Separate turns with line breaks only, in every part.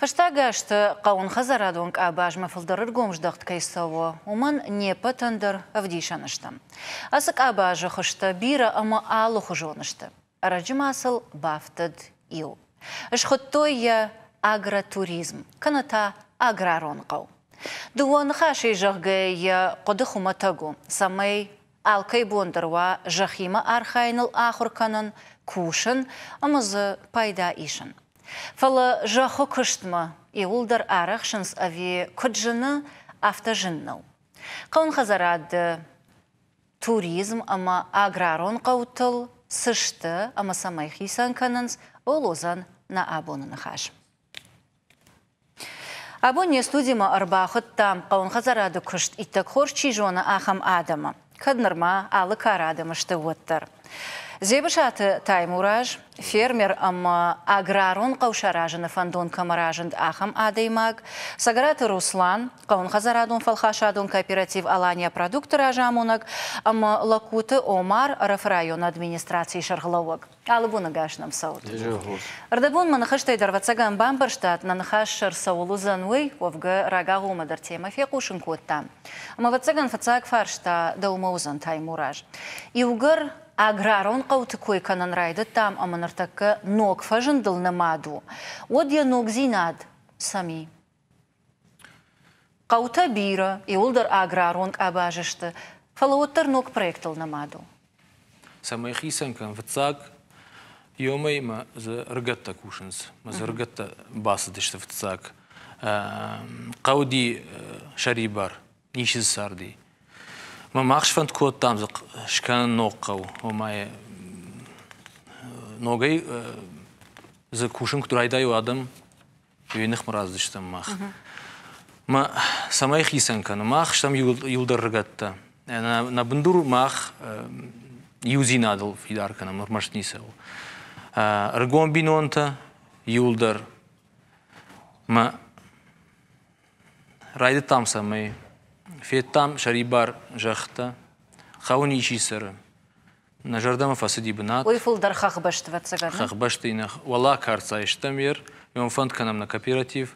Фӕстаг азты хъӕуын хӕдзарадон къабазмӕ фылдӕр ӕргом здӕхт кӕй цӕуы, уымӕн не ппӕтӕн дӕр ӕвдисӕн стӕм. Ацы къабазы хуызтӕ бирӕ ӕмӕ алыхуызон сты. Ӕрӕджы ма сыл бафтыд иу. Схуыдтой йӕ агротуризм, кӕнӕ та аграрон хъӕу. Дыууӕ ныхасӕй зӕгъгӕ, йӕ хъуыды хуымӕтӕг у, цӕмӕй Алкӕй бон дӕр уа зӕххимӕ архайыныл ахуыр кӕнын, кусын ӕмӕ дзы пайда исын. Фӕлӕ зӕххы куыстмӕ иуылдӕр арӕхсынц ӕви куыд зыны, афтӕ зын нӕу. Хъӕуынхӕдзарады туризм ӕмӕ аграрон хъӕутыл цы сты ӕмӕ цӕмӕй хицӕн кӕнынц, ОЛОЗ-ӕн нӕ абоны ныхас. Абон не студимӕ ӕрбахуыдтам, хъӕуынхӕдзарады куыст иттӕг хорз чи зоны, ахӕм адӕмы, кӕд нырма алы кары адӕмы сты, уӕддӕр. Дзебысаты Таймураз, фермер ӕмӕ аграрон хъӕу саразыны фӕндон кӕмӕ разынд, ахӕм адӕймаг, Цӕгӕраты Руслан, хъӕуынхӕдзарадон-фӕлхасадон кооператив Алания продукты разамонӕг ӕмӕ Локуты Омар, РФ-ы районы администрацийы сӕргълӕууӕг. Ӕлыгоныгӕс нӕм цӕут. Ӕрдӕбонмӕ ныхӕстӕй дӕр ӕвӕццӕгӕн бамбӕрстат, нӕ ныхас сӕр цӕуыл уыдзӕн, уый, уӕвгӕ, рагагъомӕ дӕр темӕ фехъусын кодтам. Ӕмӕ ӕвӕццӕгӕн фыццаг фарс та дӕумӕ уыдзӕн Таймураз. Иугӕр аграрон хъӕуты кой кӕнын райдыдтам ӕмӕ ныртӕккӕ ног фӕзындыл нымад у, уӕд йӕ ногдзинад цӕм и? Хъӕутӕ бирӕ, иуылдӕр аграрон къабазы сты, фӕлӕ уӕддӕр ног проектыл нымад у. Цӕмӕй хицӕн кӕн фыццаг, иомӕй-ма дзы рыгӕттӕ кусынц. Мӕ дзы рыгӕттӕ бацыдысты фыццаг. Хъӕуди сӕрибар, ницы дзы царди. Мӕ мах сфӕнд кодтам дзы скӕнын ног хъӕу, ома йӕ ногӕй дзы кусын куыд райдайой адӕм, Ей ныхмӕ раздзыстӕм мах. Мӕ цӕмӕй хицӕн кӕны, мах стӕм иудӕр рыгӕттӕ. Нӕ бындур мах иудзинадыл фидар кӕнӕм ӕрмӕст ницӕуыл. Ӕрыгон бинонтӕ иуылдӕр мӕ райдыдтам цӕмӕй федтам сӕрибар зӕххтӕ, хъӕуы ничи цӕры, Нӕ зӕрдӕмӕ фӕцыди бынат. Уый фылдӕр хӕхбӕсты, ӕвӕццӕгӕн. Хӕхбӕсты инӕ уӕлӕ кӕрцӕй стӕм ер, ме фӕнд кӕнӕм нӕ кооператив.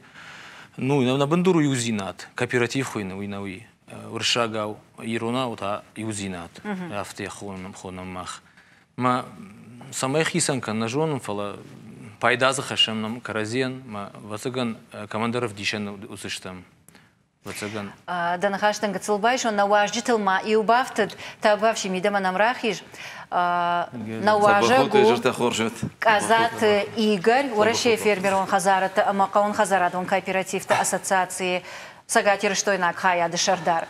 Ну, нӕ бындур у иудзинад. Кооператив хуыйны, уый нӕ уый. Уырыссагау, иронау та иудзинад. Афтӕ хонӕм, хонӕм мах. Мӕ цӕмӕй хицӕн кӕн, нӕ зонын, фӕлӕ пайда дзы хӕссӕм нӕм кӕрӕдзийӕн, мӕ ӕвӕццӕгӕн, командӕр ӕвдисӕн уыдзыстӕм. Ӕвӕццӕгӕн. Дӕ ныхӕстӕн гыццыл байсон, нӕ уазджытыл ма иу бафтыд, тӕбӕфсин мидӕмӕ нӕм рахиз. Нӕ уазӕг у Къадзаты Игорь, Уӕрӕсейы фермерон хӕдзарӕдты ӕмӕ хъӕуынхӕдзарадон кооперативты ассоциацийы цӕгатирыстойнаг хайады сӕрдар.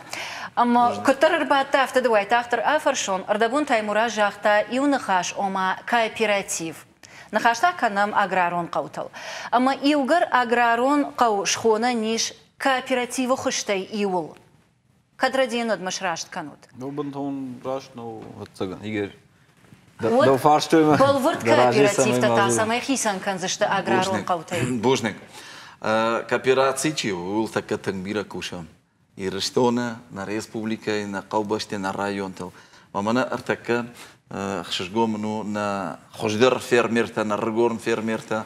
Ӕмӕ куыддӕр ӕрбадты, афтӕ ды уайтагъддӕр афӕрсон, ӕрдӕбон Таймураз загъта иу ныхас, ома кооператив. Ныхӕстӕ кӕнӕм аграрон хъӕутыл. Ӕмӕ иугӕр аграрон хъӕу схонӕн ис Кооперативы хуызтӕй иуыл кӕд Родионодмӕ сраст кӕнут? Ну, бынтон раст нӕу, ӕвӕццӕгӕн, егер Дӕу фарстой мӕ. Бӕлвырд кооперативтӕ та цӕмӕй хицӕн кӕндзысты аграрон хъӕутӕй? Бузныг. Коопераци чи у, ууыл тӕккӕ тынг бирӕ кусӕм. Ирыстоны, нӕ республикӕйы, нӕ хъӕубӕсты, нӕ районтыл. Мӕнӕ ӕртӕккӕ ӕхсызгон мын у нӕ хуыздӕр фермертӕ, нӕ рыгон фермертӕ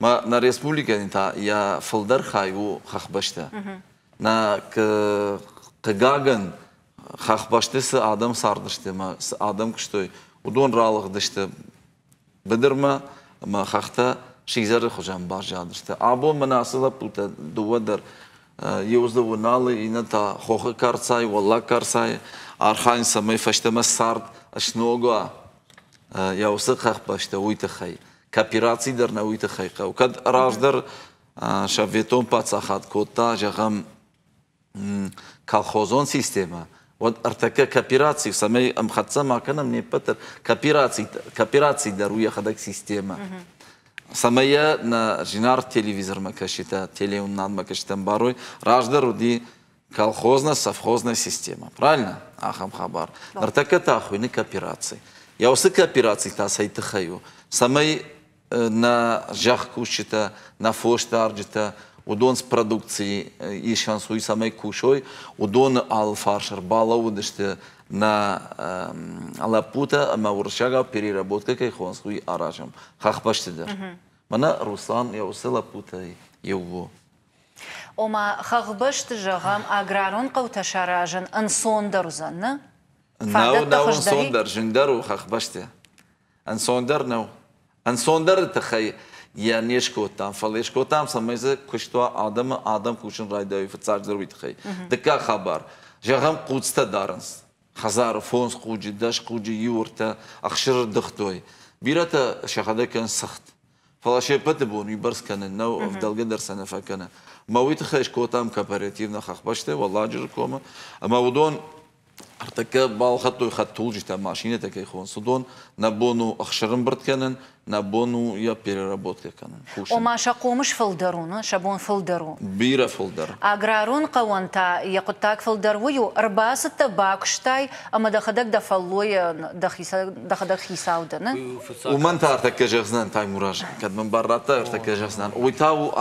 ма нӕ республикӕни та йа фулдӕр хай у хӕхбӕстӕ. Нӕ хъыгагӕн, хӕхбӕсты цы адӕм цардысты ӕмӕ цы адӕм куыстой, уыдон ралыгъдысты быдырмӕ ӕмӕ хӕхтӕ сидзӕры хуызӕн баззадысты. Абон мӕн ацы лӕппутӕ дыууӕ дӕр иу дзы Уналы, иннӕ та Хохы карцайы, Уӕллаг карцайы архайын, цӕмӕй фӕстӕмӕ цард сног уа йӕ уыцы хӕхбӕстӕ, уый тыххӕй. Коопераци дӕр нӕ уый тыххӕй хъӕуы. Кӕд раздӕр советон паддзахад кодта, зӕгъӕм, колхозон системӕ, уӕд ӕртӕккӕ коопераци, цӕмӕй ӕмхӕццӕ ма кӕнӕм не ппӕт дӕр, коопераци, коопераци дӕр у йӕхӕдӕг системӕ. Цӕмӕй йӕ нӕ зинаргъ телевизормӕ кӕсджытӕ телеуынынадмӕ кӕсджытӕ ӕмбарой, раздӕр уыди колхозно-совхозная система. Правильно? Ахӕм хабар. Ныртӕккӕ та хуыйны коопераци. Я уыцы коопераци та цӕй тыххӕй у? Цӕмӕй на зӕхкусджытӕ, на фосдарджытӕ уыдон с продукцийы исӕнцой, цӕмӕй кусой, уыдоны алы фарс ӕрбалӕууыдысты на лӕппутӕ ӕмӕ уырыссаг переработкӕ кӕй хонц, уый аразӕм хӕхбӕсты дӕр. Мӕнӕ Руслан йӕ уыцы лӕппутӕй иу у. ома хӕхбӕсты, зӕгъӕм, аграрон хъӕутӕ саразын ӕнцондӕр уыдзӕн, нӕ? Нау, нау ӕнцондӕр, зынгдӕр у хӕхбӕсты. Ӕнцондӕр нӕу. Ӕнцондӕры тыххӕй йӕ не скодтам, фӕлӕ скодтам, цӕмӕй дзы куыст уа, адӕмы адӕм кусын райдайой фыццаг дзырд уый тыххӕй. Дыккаг хабар, зӕгъӕм, хъуцтӕ дарынц. Хӕдзары фондз хъуджы, дӕс хъуджы иу ӕртӕ ӕхсыры дыгътой. Бирӕтӕ сӕхӕдӕг кӕнынц цыхт. Фӕлӕ се ппӕты бон уыйбӕрц кӕнын нӕу, ӕвдӕлгӕ дӕр сӕ нӕ фӕкӕны. Мӕ уый тыххӕй скодтам кооперативнӕ хӕхбӕсты Уӕлладжыры комы, ӕмӕ уыдон ӕртӕккӕ балхӕдтой хӕдтулджытӕ, машинӕтӕ кӕй хонц, уыдон нӕ бон у ӕхсырымбырд кӕнын, нӕ бон у йӕ переработкӕ кӕнын, кусын. Ома сӕ хъомыс фылдӕр у, сӕ бон фылдӕр у? Бирӕ фылдӕр. Аграрон хъӕуӕн та йӕ хъуыддаг фылдӕр уый у, ӕрбацыдтӕ, бакуыстай, ӕмӕ дӕхӕдӕг дӕ фӕллойӕн, дӕхӕдӕг хицау дӕн. Уымӕн та ӕртӕккӕ зӕгъдзынӕн, Таймураз, кӕд мын бар радтай ӕртӕккӕ зӕгъдзынӕн, уый та у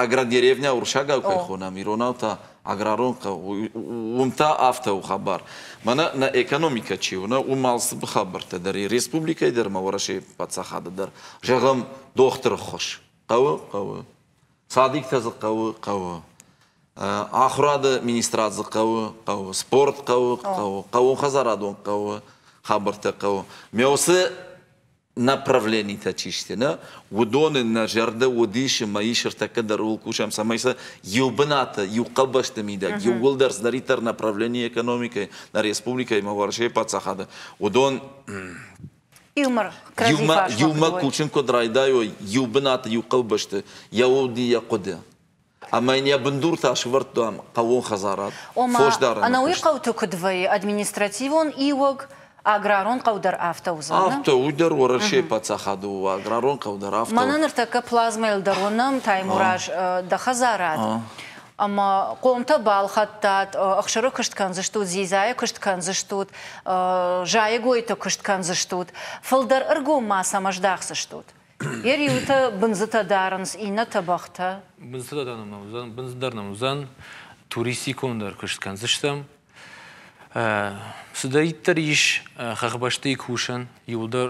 агродеревня урсагау кӕй хонӕм, иронау та аграрон хъӕу, уым та афтӕ у хабар. Мӕнӕ нӕ экономикӕ чи у, нӕ уым алцыпы хабӕрттӕ дӕр и, республикӕйы дӕр ӕмӕ Уӕрӕсейы паддзахады дӕр. Зӕгъӕм, дохтыры ххуыс. Хъӕуы, хъӕуы. Цадиктӕ дзы хъӕуы, хъӕуы ахуырады министрад дзы хъӕуы, хъӕуы спорт хъӕуы, хъӕуы хъӕуон хӕдзарадон хъӕуы хабӕрттӕ хъӕуы. Ме уыцы направленитӕ чи сты, нӕ, уыдоны нӕ зӕрдӕ уыдис ӕмӕ ис ӕртӕккӕ дӕр ууыл кусӕм, цӕмӕй сӕ иу бынаты, иу хъӕбӕсты мидӕг, иууылдӕр цыдӕриддӕр направлени экономикӕйы, нӕ республикӕйы ӕмӕ Уӕрӕсейы паддзахады, уыдон Иумӕ, иумӕ кусын куыд райдайой иу бынаты, иу хъӕубӕсты, йӕ уд и йӕ хъуыды. Ӕмӕ йын йӕ бындуртӕ сӕвӕрдтам хъӕууон хӕдзарад. Фосдарӕны Ӕнӕуый хъӕуты куыд вӕййы административон иуӕг, аграрон хъӕу дӕр афтӕ уыдзӕн? Афтӕ, уый дӕр Уӕрӕсейы паддзахады у, аграрон хъӕу дӕр афтӕ у. Мӕнӕ ныртӕккӕ плазмӕйыл дӕр уынӕм Таймураз дӕ хӕдзарад. ӕмӕ хъомтӕ балхӕдтат, ӕхсыры куыст кӕндзыстут, дзидзайы куыст кӕндзыстут, зайӕгойты куыст кӕндзыстут, фылдӕр ӕргом ма сӕм ӕздӕхдзыстут. Йӕ риутӕ бындзытӕ дарынц, иннӕтӕ бӕхтӕ. Бындзытӕ дӕр нӕм уыдзӕн, бындз дӕр нӕм уыдзӕн. Туристикондӕр куыст кӕндзыстӕм. Цыдӕриддӕр ис хӕхбӕстыйы кусӕн, иуылдӕр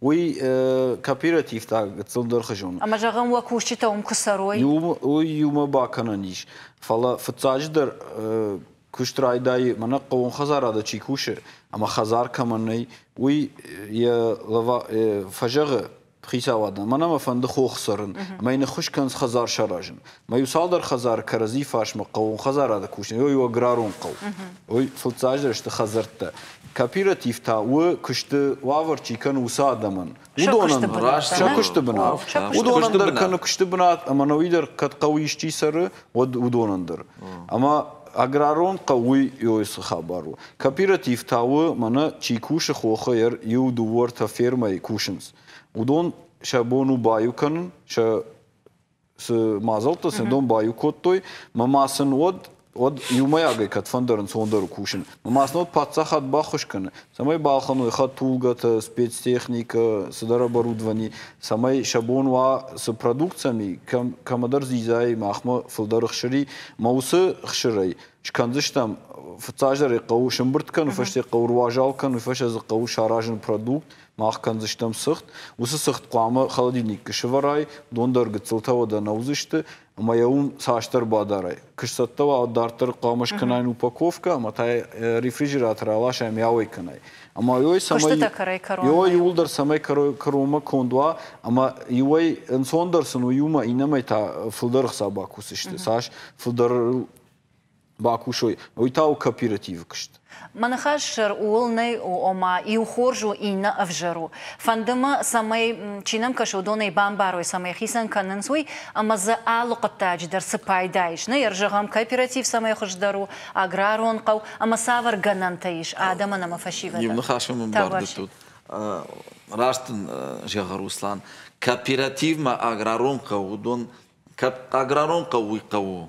Уый кооператив та гыццыл дӕрхы зоны. Ӕмӕ зӕгъӕм, уӕ кусджытӕ уым куы цӕрой? Иу, уый иумӕ бакӕнӕн ис. Фӕлӕ фыццаджыдӕр куыст райдайы, мӕнӕ хъӕуон хӕдзарады чи кусы, ӕмӕ хӕдзар кӕмӕн нӕй, уый йӕ фӕзӕгъы хицауадӕн, мӕнӕ мӕ фӕнды хох цӕрын, ӕмӕ йын ӕххуыс кӕнынц хӕдзар саразын. Мӕ иу цалдӕр хӕдзары кӕрӕдзи фарсмӕ хъӕуон хӕдзарады кусын, ой у аграрон хъӕу. Ой, фыццаджыдӕр сты хӕдзӕрттӕ. Кооператив та у, куысты уавӕр чи кӕны, уыцы адӕмӕн. Уыдонӕн раст сӕ куысты бынат. Уыдонӕн дӕр кӕны куысты бынат, ӕмӕ науи дӕр кӕд хъӕуы исчи цӕры, уӕд уыдонӕн дӕр. Ӕмӕ аграрон хъӕу уый цы хабар у? Кооператив та у, мӕнӕ чи кусы хохӕй, иу, дыууӕ ӕртӕ фермӕйы кусынц. Уыдон сӕ бон у баиу кӕнын, сӕ цы мадзӕлттӕ сын дон баиу кодтой, мӕ ма сын уӕд уӕд иумӕйагӕй кӕд фӕндӕрынц уон дӕр кусын. Ма сын уӕд паддзахад баххуыс кӕны, цӕмӕй балхӕной хӕдтулгӕтӕ, спецтехникӕ, цыдӕр оборудовани, цӕмӕй сӕ бон уа цы продукциями кӕм кӕмӕдӕр зизай, махмӕ фылдӕр хсыри, мӕ уыцы хсырӕй скӕндзыстӕм. Фыццаздӕр ӕй хъӕуы сымбырд кӕны, фӕстӕ хъӕуы руазал кӕны, уый фӕстӕ дзы хъӕуы саразын продукт, Мах кӕндзыстӕм цыхт, уыцы цыхт хъуамӕ холодильникты сывӕрай, дондӕр гыццылтӕ уӕдӕ нӕудзысты, ӕмӕ йӕ уым цасдӕр бадарай. Куы сцӕттӕ уа, дарддӕр хъуамӕ скӕнай упаковкӕ, ӕмӕ та йӕ рефрижераторы аласай ӕмӕ йауӕй кӕнай. Ӕмӕ иуӕй цӕмӕй куыстытӕ кӕрӕй кӕронмӕ. Иуӕй иуылдӕр цӕмӕй кӕронмӕ конд уа, ӕмӕ иуӕй ӕнцондӕр сын у иумӕ, иннӕмӕй та фылдӕр ӕхца бакусысты. Цас фылдӕр бакусой, уый та у кооперативы куыст. Мӕ ныхас сӕр ууыл нӕй, ома иу хорз у, иннӕ ӕвзӕр у. Фӕнды мӕ, цӕмӕй чи нӕм кӕсы, уыдонӕй бамбарой, цӕмӕй хицӕн кӕнынц уый, ӕмӕ дзы алы хъуыддаджы дӕр цы пайда ис. Нӕ ӕрзӕгъӕм кооператив цӕмӕй хуыздӕр у, аграрон хъӕу ӕмӕ цавӕр гӕнӕнтӕ ис адӕмӕн ӕмӕ фӕсивӕдӕн. Иу ныхасмӕ мын бардӕттут. Раст дын зӕгъы Руслан, кооперативмӕ аграрон хъӕу уыдон, аграрон хъӕу уый хъӕу у,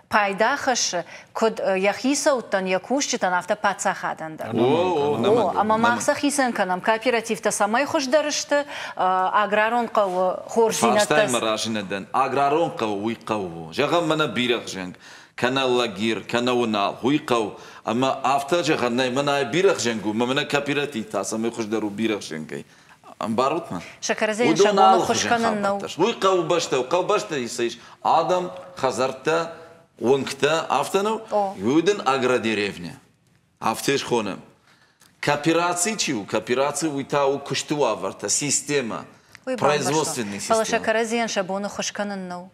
пайда хӕссы куыд йӕ хицӕуттӕн, йӕ кусджытӕн, афтӕ паддзахадӕн дӕр. Ӕмӕ мах сӕ хицӕн кӕнӕм кооперативтӕ, цӕмӕй хуыздӕр сты аграрон хъӕуы хорздзинӕдтӕ. Фарстайы мӕ разы нӕ дӕн. Аграрон хъӕу уый хъӕу у. Зӕгъӕм, мӕнӕ бирӕгъ зӕнг, кӕнӕ лагирь, кӕнӕ уынал, уый хъӕу. Ӕмӕ афтӕ зӕгъӕн нӕй, мӕнӕ бирӕгъ зӕнг у, ӕмӕ мӕнӕ кооператив та цӕмӕй хуыздӕр у бирӕгъ зӕнгӕй. Ӕмбарут-ма? Сокорозейӕн сӕ бон ӕххуыс кӕнын нӕу. Уый хъӕубӕстӕ у. Хъӕубӕстӕ ис адӕм, хӕдзӕрттӕ, уынгтӕ, афтӕ нӕу? Уый дын агродеревня. Афтӕ схонӕм. Коопераци чи у? Коопераци уый та у куысты уавӕртӕ, системӕ, производственный системӕ. Фӕлӕ Сокорозейӕн сӕ бон ӕххуыс кӕнын нӕу.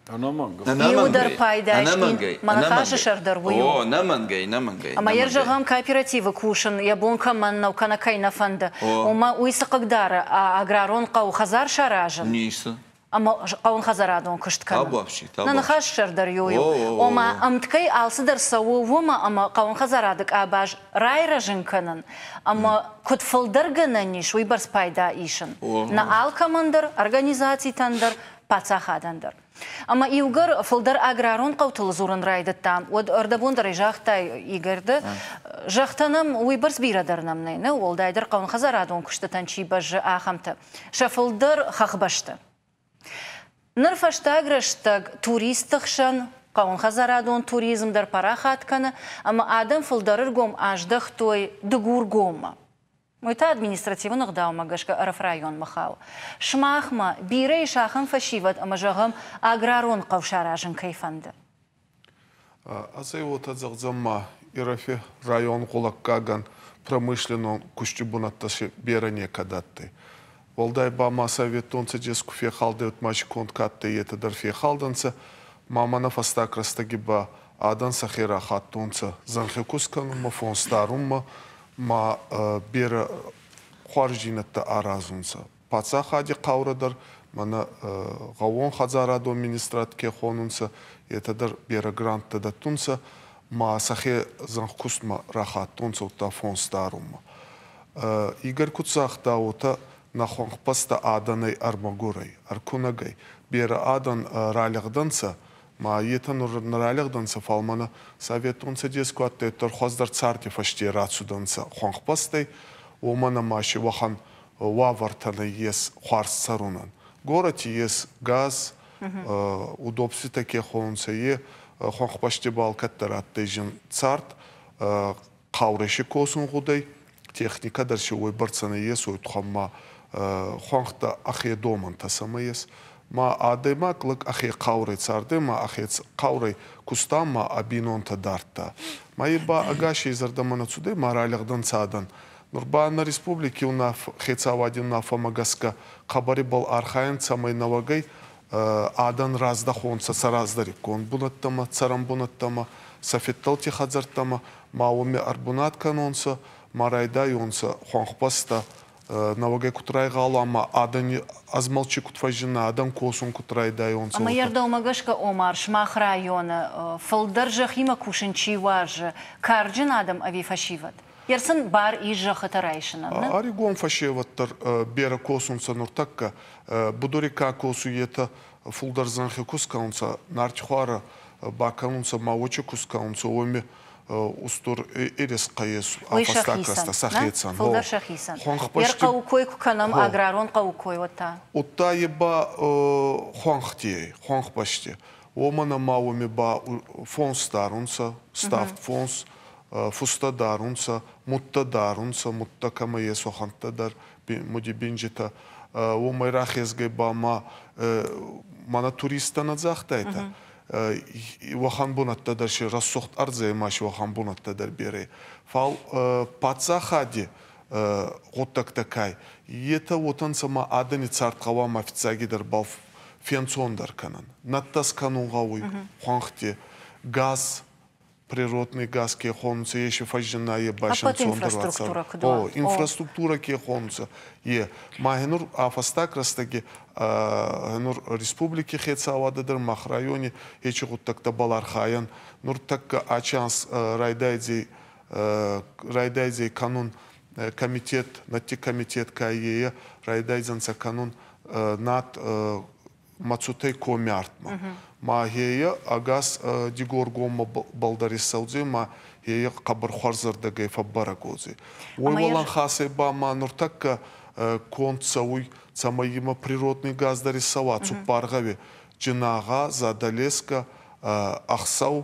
Иу дӕр пайдайджын моноклажы сӕр дӕр уый у. О, нӕ мӕнгӕй, нӕ мӕнгӕй. Ӕмӕ йӕ зӕгъӕм, кооперативы кусын йӕ бон кӕмӕн нӕу кӕнӕ кӕй нӕ фӕнды, уымӕ уый цы хъыгдары, аграрон хъӕуы хӕдзар саразын? Ницы. Ӕмӕ хъӕуын хӕдзарадон куыст кӕнын. Табуафси, табуафси. Нӕ ныхас сӕр дӕр иу у, ома ӕмткӕй алцыдӕр цӕуы уымӕ, ӕмӕ хъӕуын хӕдзарады къабаз райрӕзын кӕнын ӕмӕ куыд фылдӕр гӕнӕн ис, уый бӕрц пайда исын нӕ алкӕмӕн дӕр, организацитӕн дӕр, паддзахадӕн дӕр. Ӕмӕ иугӕр фылдӕр аграрон хъӕутыл дзурын райдыдта, уӕд ӕрдӕбондӕрӕй загътай, Игорь, ды, зӕгътӕ нӕм, уыйбӕрц бирӕ дӕр нӕм нӕй, нӕ? Уӕлдайдӕр хъӕуынхӕдзарадон куыстытӕн чи бӕззы, ахӕмтӕ. Сӕ фылдӕр хӕхбӕсты. Ныр фӕстаг рӕстӕг туристты хсӕн хъӕуынхӕдзарадон туризм дӕр парахат кӕны ӕмӕ адӕм фылдӕр ӕргом аздӕхтой Дыгургоммӕ. Уый та административон ӕгъдаумӕ гӕсгӕ ӕрфрайонмӕ хауы. Сымахмӕ бирӕ ис ахӕм фӕсивӕд ӕмӕ, зӕгъӕм, аграрон хъӕу саразын кӕй фӕнды. Азӕй уотӕ зӕгъдзӕн ма Ирӕфи район гъулӕггагӕн промышленнон кусджи бунӕттӕ си берӕ некӕд адтӕй. Уӕлдай ба ма советтон цӕдес ку фехалдӕуй мачи конд кӕддӕй, етӕ дӕр фехалдӕнцӕ, ма мӕнӕ фӕстаг рӕстӕги ба адӕн сӕхе рахаттонцӕ зӕнхе кус кӕнунмӕ, фонс дарунмӕ ма берӕ хуарздзийнӕдтӕ аразунцӕ. Паддзахади хъаурӕ дӕр, мӕнӕ гъӕуон хӕдзарадон министрад ке хонунцӕ, етӕ дӕр берӕ гранттӕ дӕттунцӕ ма сӕхе зӕнхкустмӕ рахаттонцӕ удта фонс дарунмӕ. Игорь куд загъта, уотӕ, нӕ хуӕнхбӕстӕ адӕнӕй ӕрмӕгорӕй, ӕркунӕгӕй берӕ адӕн ралигъдӕнцӕ, ма етӕ нур нӕ ралигъдӕнцӕ, фал мӕнӕ Советон Цӕдес куӕддӕриддӕр хуӕздӕр царди фӕсте рацудӕнцӕ хуӕнхбӕстӕй, уомӕн ӕма си уӕхӕн уавӕртӕ нӕййес хуарз цӕрунӕн. Горӕти ес газ, удобствитӕ ке хонунцӕ, е хуӕнхбӕсти бал кӕддӕр адтӕй зин цард, Хъаурesi косунгъудӕй, техникӕ дӕр си уойбӕрцӕ нӕййесуй, тухӕмма хуӕнхтӕ ӕхе домӕнтӕ сӕмӕ ес. Ма адӕймаг лӕг ӕхе хъаурӕй цардӕй, ма ӕхе хъаурӕй куста ма ӕ бийнонтӕ дардта. Ма е ба ӕгасей зӕрдӕмӕ нӕ цудӕй ма ралӕгдӕнцӕ адӕн. Нур ба нӕ республики хецауади унаффӕмӕ гӕсгӕ хъӕбӕребӕл архайӕн цӕмӕй нӕуӕгӕй адӕн раздахонцӕ сӕ раздӕриккон бунӕттӕмӕ, цӕрӕнбунӕттӕмӕ, сӕ федтӕлти хӕдзӕрттӕмӕ ма уоми ӕрбунат кӕнонцӕ ма райдайонцӕ хуӕнхбӕстӕ нӕуӕгӕй куд райгъала ма адӕни ӕзмӕлчи куд фӕззинна, адӕн косун куд райдайонцӕ. Ӕма е рдӕумӕ гӕсгӕ Омар сымах районы фылдӕр зӕххимӕ кусын чи уарзы, карджын адӕм ӕви фӕсивӕд? Ерсын бар ис зӕххытӕ райсынӕн. Ӕригон фӕсевӕд дӕр берӕ косунцӕ нуртӕккӕ. Будори ка косуй, етӕ фулдӕр зӕнхи ку скӕнунцӕ, нартхуарӕ бакӕнунцӕ ма уочи ку скӕнунцӕ, уоми устур ерескъӕ ес, афӕстаг сӕхецӕн. Фулдӕр сӕхицӕн. Хуӕнхбӕсти... Ер хъӕуы кой куы кӕнӕм, аграрон хъӕуы кой, уӕд та? Удта е ба хуӕнхти ӕй, хуӕнхбӕсти. Уомӕн ӕма уоми ба фонс дарунцӕ, ставд фонс, Фустӕ дарунцӕ, мудтӕ дарунцӕ, мудтӕ кӕмӕ ес, уӕхӕнттӕ дӕр муди бинджитӕ. Уомӕй рахезгӕй ба ма мӕнӕ туристтӕ нӕ загътайтӕ, уӕхӕн бунӕттӕ дӕр си рӕсугъд ӕрдзӕй ма си уӕхӕн бунӕттӕ дӕр берӕ. Фал паддзахади гъуддӕгтӕ ка етӕ, уотӕ нцӕ ма адӕни цард гъӕуама фиццагидӕрбӕл фенцондӕр кӕнӕн. Нӕдтӕс кӕнун гъӕуй хуӕнхти газ природный газ ке хонунцӕ, еци фӕззинӕййе байсӕнцондӕр уаццӕуӕн. О, инфраструктурӕ ке хонунцӕ, е. Ма нур а фӕстаг рӕстӕги нур республики хецауадӕ дӕр мах райони ечи гъуддӕгтӕбӕл архайӕн. Нур тӕккӕ ачи анз райдайдзӕй кӕнун комитет, надти комитет ка ейӕ, райдайдзӕнцӕ кӕнун над Мацутӕй коммяртмӕ. Ма хе ӕгас Дигоргоммӕ балдар иссӕудзӕй ма хе хъӕбӕрхуӕрзӕрдӕгӕй фӕббарӕгодзӕй. Уой уӕлӕн хасӕй ба ма нуртӕккӕ конд цӕуй, цӕмӕй имӕ природный газ дӕр исцӕуа цуппар гъӕуи, Джинагъа, Задӕлескӕ, Ӕхсӕв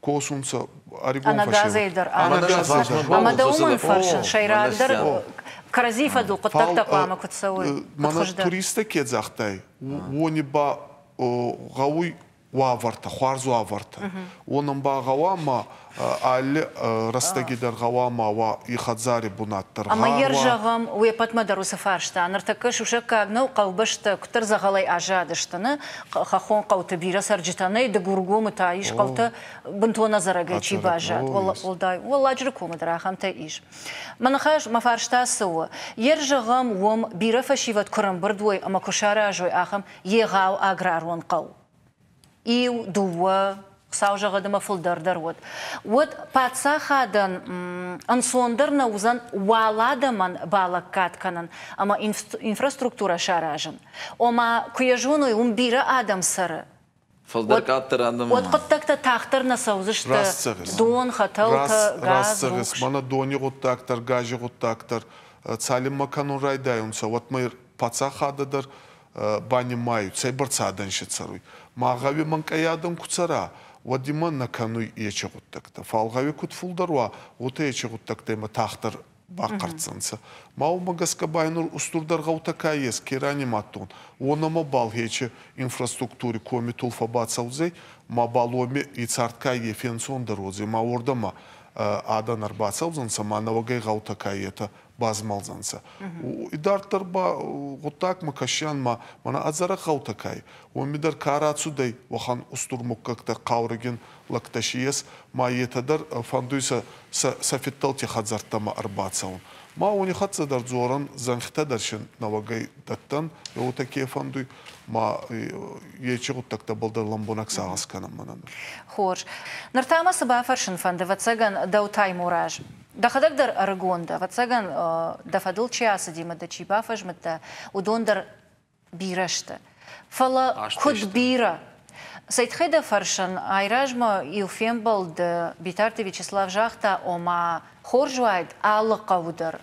косунцӕ ӕригон фӕсевӕд. Ӕма дӕ уымӕн фӕрсын, сӕйрагдӕр кӕрӕдзий фӕдыл хъуыддӕгтӕ хъуамӕ куыд цӕуой? Мӕнӕ туристтӕ ке загътай, уони ба гъӕуй уавӕртӕ, хуарз уавӕртӕ. Уонӕн ба гъӕуа ма али рӕстӕги дӕр гъӕуа ма уа и хӕдзари бунат дӕр. Ӕма е рзӕгъӕм, уе ппӕтмӕ дӕр уыцы фарста. Ныртӕккӕ сусӕггаг нӕу хъӕубӕстӕ куыддӕр дзӕгъӕлӕй аззадысты, нӕ, хӕххон хъӕуты бирӕ цӕрджытӕ нӕй, Дыгургомы та ис хъӕутӕ, бынтон ӕдзӕрӕгӕй чи баззад, уӕлдай Уӕлладжыры комы дӕр ахӕмтӕ ис. Мӕ ныхас, мӕ фарста цы у? Йе рзӕгъӕм уым бирӕ фӕсивӕд куы рымбырд уой ӕмӕ куы саразой ахӕм егъау аграрон хъӕу. Иу, дыууӕ, Хуыцау зӕгъӕд ӕмӕ фылдӕрдӕр уӕд. Уӕд паддзахадӕн ӕнцондӕр нӕ уыдзӕн уал адӕмӕн балӕггад кӕнын ӕмӕ инфраструктурӕ саразын. Ома, куы йӕ зоной, уым бирӕ адӕм цӕры, Фылдӕр къаддӕр адӕм. Уӕд хъуыддӕгтӕ тагъддӕр нӕ цӕудзысты. Дон, хӕтӕлтӕ, газ, цӕгъис. Мӕнӕ дони гъуддаг дӕр, гази гъуддаг дӕр. Цалинмӕ кӕнун райдайунцӕ, уӕдмӕ паддзахадӕ дӕр банимайут, цӕйбӕрцӕ адӕнсӕ цӕруй. Ма гъӕуи мӕнкъӕй адӕн ку цӕра, уӕд имӕ нӕ кӕнуй ечи гъуддӕгтӕ. Фал гъӕуи куд фулдӕр уа, уотӕ ечи гъуддӕгтӕ имӕ тагъддӕр бахъӕрддзӕнцӕ. Ма уомӕ гӕсгӕ ба нур устурдӕр гъӕутӕ ка ес, ке ранимадтон, уонӕмӕбал Хечи инфраструктури комитул фӕбацӕудзӕй, мабал уоми ицардкайгӕ фенцондӕр уодзӕй, ма уордӕмӕ адӕн ӕрбацӕудзӕнцӕ, ма нӕуӕгӕй гъӕутӕ ка етӕ, базмалдзӕнцӕ идарддӕр ба гъуддагмӕ кӕсиан ма мӕнӕ ӕдзӕрӕг гъӕутӕ кӕй уоми дӕр ка рацудӕй уӕхӕн устур муггӕгтӕ хъаургин лӕгтӕ си ес ма етӕ дӕр фӕндуй сӕ сӕ фидтӕлти хӕдзӕрттӕмӕ ӕрбацӕун. Ма уони хӕццӕ дӕр дзорӕн зӕнхитӕ дӕр син нӕуӕгӕй дӕттӕн, еутӕ ке фӕндуй, ма ечи гъуддӕгтӕбӕл дӕр лӕмбунӕг сагъӕс кӕнӕн мӕнӕн. Хорз. Ныр та мӕ цы бафӕрсын фӕнды, ӕвӕццӕгӕн, дӕу Таймураз. Дӕхӕдӕг дӕр ӕрыгон дӕ, ӕвӕццӕгӕн, дӕ фӕдыл чи ацыдимӕ дӕ чи бафӕзмыдта, уыдон дӕр бирӕ сты. Фӕлӕ куыд бирӕ? Цӕй тыххӕй дӕ фӕрсын? Айразмӕ иу фембӕлды Битарты Вячеслав загъта, ома, хорз уаид алы хъӕуы дӕр,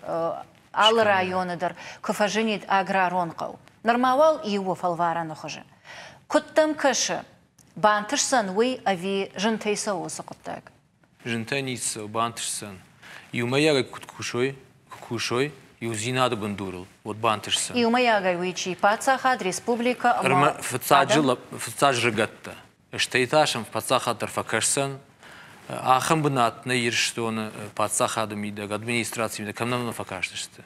алы районы дӕр куы фӕзынид аграрон хъӕу. Нырма уал иу у фӕлварӕны хуызы. Куыд дӕм кӕсы, бантысдзӕн уый ӕви зынтӕй цӕуы уыцы хъуыддаг? Зынтӕ ницы сыл бантысдзӕн. Иумӕйагӕй куыд кусой, куы кусой иудзинады бындурыл, уӕд бантысдзӕн. Иумӕйагӕй уый чи, паддзахад, республикӕ ӕмӕ ӕрмӕ фыццаджы фыццаг зӕрыгӕттӕ, стӕй та сӕм паддзахад дӕр фӕкӕсдзӕн. Ахӕм бынат нӕ Ирыстоны паддзахады мидӕг, администрацийы мидӕг кӕм нӕ фӕкастысты.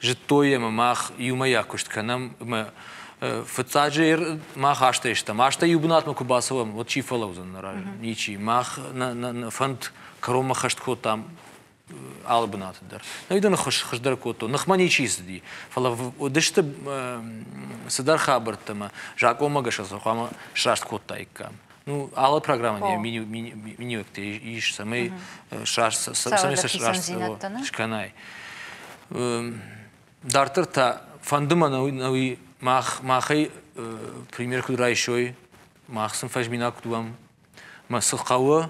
Зыдтой ӕмӕ мах иумӕйаг куыст кӕнӕм ӕмӕ фыццаджы мах азтӕй стӕм. Азтӕй иу бынатмӕ куы бацӕуӕм, уӕд чи фӕлӕудзӕн нӕ разы? Ничи. Мах нӕ фӕнд кӕронмӕ хӕст кодтам алы бынаты дӕр. Нӕй дын хуыз хуыздӕр кодтон. Ныхмӕ ничи цыди. Фӕлӕ уыдысты цыдӕр хабӕрттӕ, ӕмӕ закъонмӕ гӕсгӕ сӕ хъуамӕ сраст кодтаиккам. Ну, алы программӕн йӕ миниуӕгтӕ ис, цӕмӕй сраст цӕмӕй сӕ сраст скӕнай. Дарддӕр та фӕнды мӕ науи мах махӕй пример куыд райсой, мах сын фӕзминаг куыд уӕм, мӕ цы хъӕуы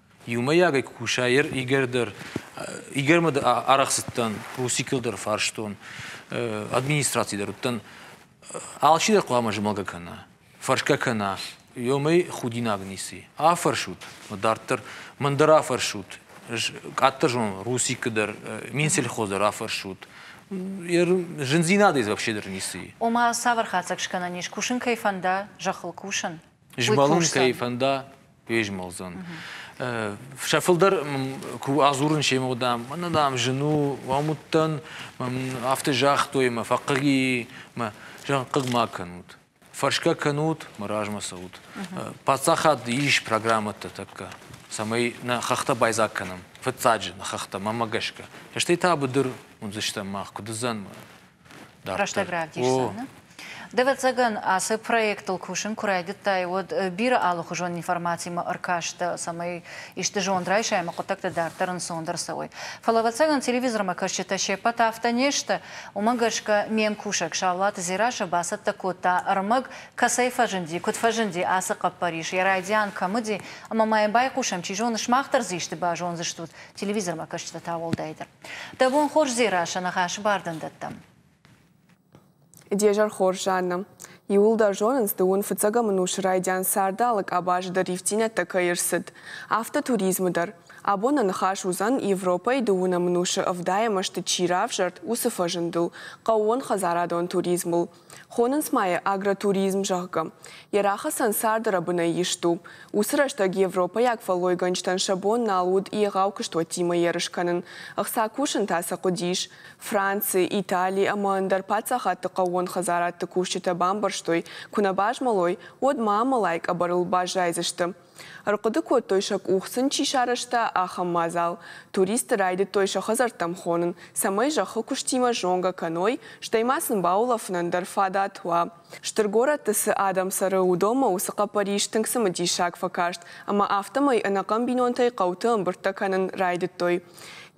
Иумӕйагӕй куы куса ир Игорь дӕр. Игорьмӕ арӕхсыдтӕн, Русикыл дӕр фарстон, администраци дӕр уыдтӕн. Алчидӕр хъуамӕ змӕлгӕ кӕна, фӕрсгӕ кӕна, ёмӕй худинаг ницы. Афӕрсут, дарддӕр мӕн дӕр афӕрсут. Ӕз къаддӕр зонон Русикы дӕр, мин сельхоз дӕр афӕрсут. Зындзинадӕй дзы вообще дӕр ницы и. Ома, цавӕр хатдзӕг скӕнӕн ис, кусын кӕй фӕнда, зӕххыл кусын? Змӕлын кӕй фӕнда, фезмӕлдзӕн. Сӕ фылдӕр куы адзурын семӕ уыдам, мӕнӕ дам зын у, уам уыдтӕн, афтӕ загътой мӕ фӕхъыг и, мӕ зӕгъ хъыг ма кӕнут. Фӕрсгӕ кӕнут, мӕ размӕ цӕут. Паддзахад ис программӕтӕ тӕккӕ, цӕмӕй нӕ хӕхтӕ байдзаг кӕнӕм, фыццаджы нӕ хӕхтӕ, мӕмӕ гӕсгӕ. Стӕй та быдыр уындзыстӕм мах, куыд уыдзӕн? рӕстӕг равдисдзӕн. Дӕвӕццӕгӕн, ацы проектыл кусын куы райдыдтай, уӕд бирӕ алыхуызон информацимӕ ӕркастӕ, цӕмӕй исты зонд райсай ӕмӕ хъуыддӕгтӕ дарддӕр ӕнцондӕр цӕуой. Фӕлӕ, ӕвӕццӕгӕн, телевизормӕ кӕсджытӕ се ппӕт афтӕ не сты, уымӕ гӕсгӕ ме мкусӕг Саулаты Дзерассӕ бацӕттӕ кодта ӕрмӕг, кӕцӕй фӕзынди, куыд фӕзынди, ацы хъӕппӕрис, йӕ райдиан кӕм уыди, ӕмӕ ма йӕм байхъусӕм, чи зоны, сымах дӕр дзы исты базондзыстут, телевизормӕ кӕсджытӕ та уӕлдайдӕр. Дӕ бон хорз, Дзерассӕ, ныхасы бар дын дӕттӕм. Де зӕр хорз, Жанна. Иууылдӕр зонынц, дыууын фыццӕгӕм ын ус райдиан царды алы къабазы дӕр ивтинӕттӕ кӕй ӕрцыд, афтӕ туризмы дӕр. Абон нӕ ныхас уыдзӕн, Европӕйы дыууынӕм ӕнусы ӕвдай ӕмӕ сты чи равзӕрд, уыцы фӕзындыл, хъӕууон хӕдзарадон туризмыл. Хонынц ма йӕ агротуризм, зӕгъгӕ. Йӕ рахӕцӕн царды рӕбынӕй ист у. Уыцы рӕстӕг европӕйаг фӕллойгӕнджытӕн сӕ бон нал уыд егъау куыстуӕттимӕ ерыс кӕнын. Ӕхца кусын та сӕ хъуыдис. Францы, Итали ӕмӕ ӕндӕр паддзахадты хъӕууон хӕдзарадты кусджытӕ бамбӕрстой, куы нӕ базмӕлой, уӕд ма амӕлай къӕбӕрыл баззайдзысты. Ӕрхъуыды кодтой сӕ къух сын чи сарӕзта, ахӕм мадзал. Туристты райдыдтой сӕ хӕдзӕрттӕм хонын, цӕмӕй зӕххы куыстимӕ зонгӕ кӕной, стӕй ма сын баулӕфынӕн дӕр фадат уа. Стыр горӕтты цы адӕм цӕры, уыдонмӕ уыцы хъӕппӕрис тынг цымыдисаг фӕкаст, ӕмӕ афтӕмӕй ӕнӕхъӕн бинонтӕй хъӕуты ӕмбырдтӕ кӕнын райдыдтой.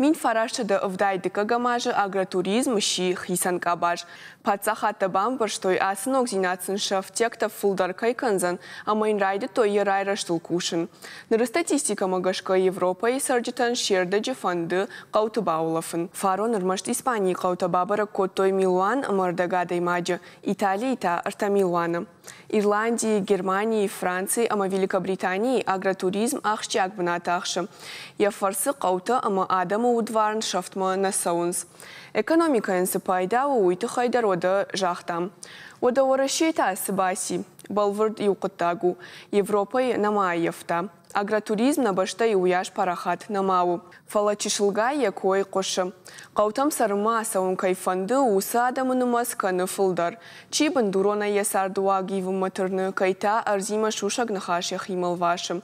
Мин фарастсӕдӕ ӕвдай дыккӕгӕм азы агротуризм сси хицӕн къабаз. Паддзахадтӕ бамбӕрстой, ацы ногдзинад сын сӕ ӕфтиӕгтӕ фылдӕр кӕй кӕндзӕн ӕмӕ йын райдыдтой йӕ райрӕзтыл кусын. Ныры статистикӕмӕ гӕсгӕ Европӕйы цӕрджытӕн се рдӕджы фӕнды хъӕуты баулӕфын. Фарон ӕрмӕст Испанийы хъӕутӕ бабӕрӕг кодтой милуан ӕмӕ ӕрдӕг адӕймаджы, Италийы та, ӕртӕ милуаны. Ирландийы, Германийы, Францийы ӕмӕ Великобританийы агротуризм ахсджиаг бынат ахсы. Йӕ фӕрцы хъӕутӕ ӕмӕ адӕмы удварн сӕфтмӕ нӕ цӕуынц. Экономикӕйӕн цы пайда у, уый тыххӕй дӕр уӕдӕ загътам. Уӕдӕ Уӕрӕсейы та цы баци? Бӕлвырд иу хъуыддаг у, Европӕйы нӕма ӕййӕфта. Агротуризм нӕ бӕстӕйы уыйас парахат нӕма у, фӕлӕ чысылгай йӕ кой хъуысы. Хъӕутӕм цӕрынмӕ ацӕуын кӕй фӕнды, уыцы адӕмы нымӕц кӕны фылдӕр. Чи бындуронӕй йӕ цардыуаг ивынмӕ тырны, кӕй та ӕрдзимӕ сусӕг ныхас йӕхимӕ лвасы.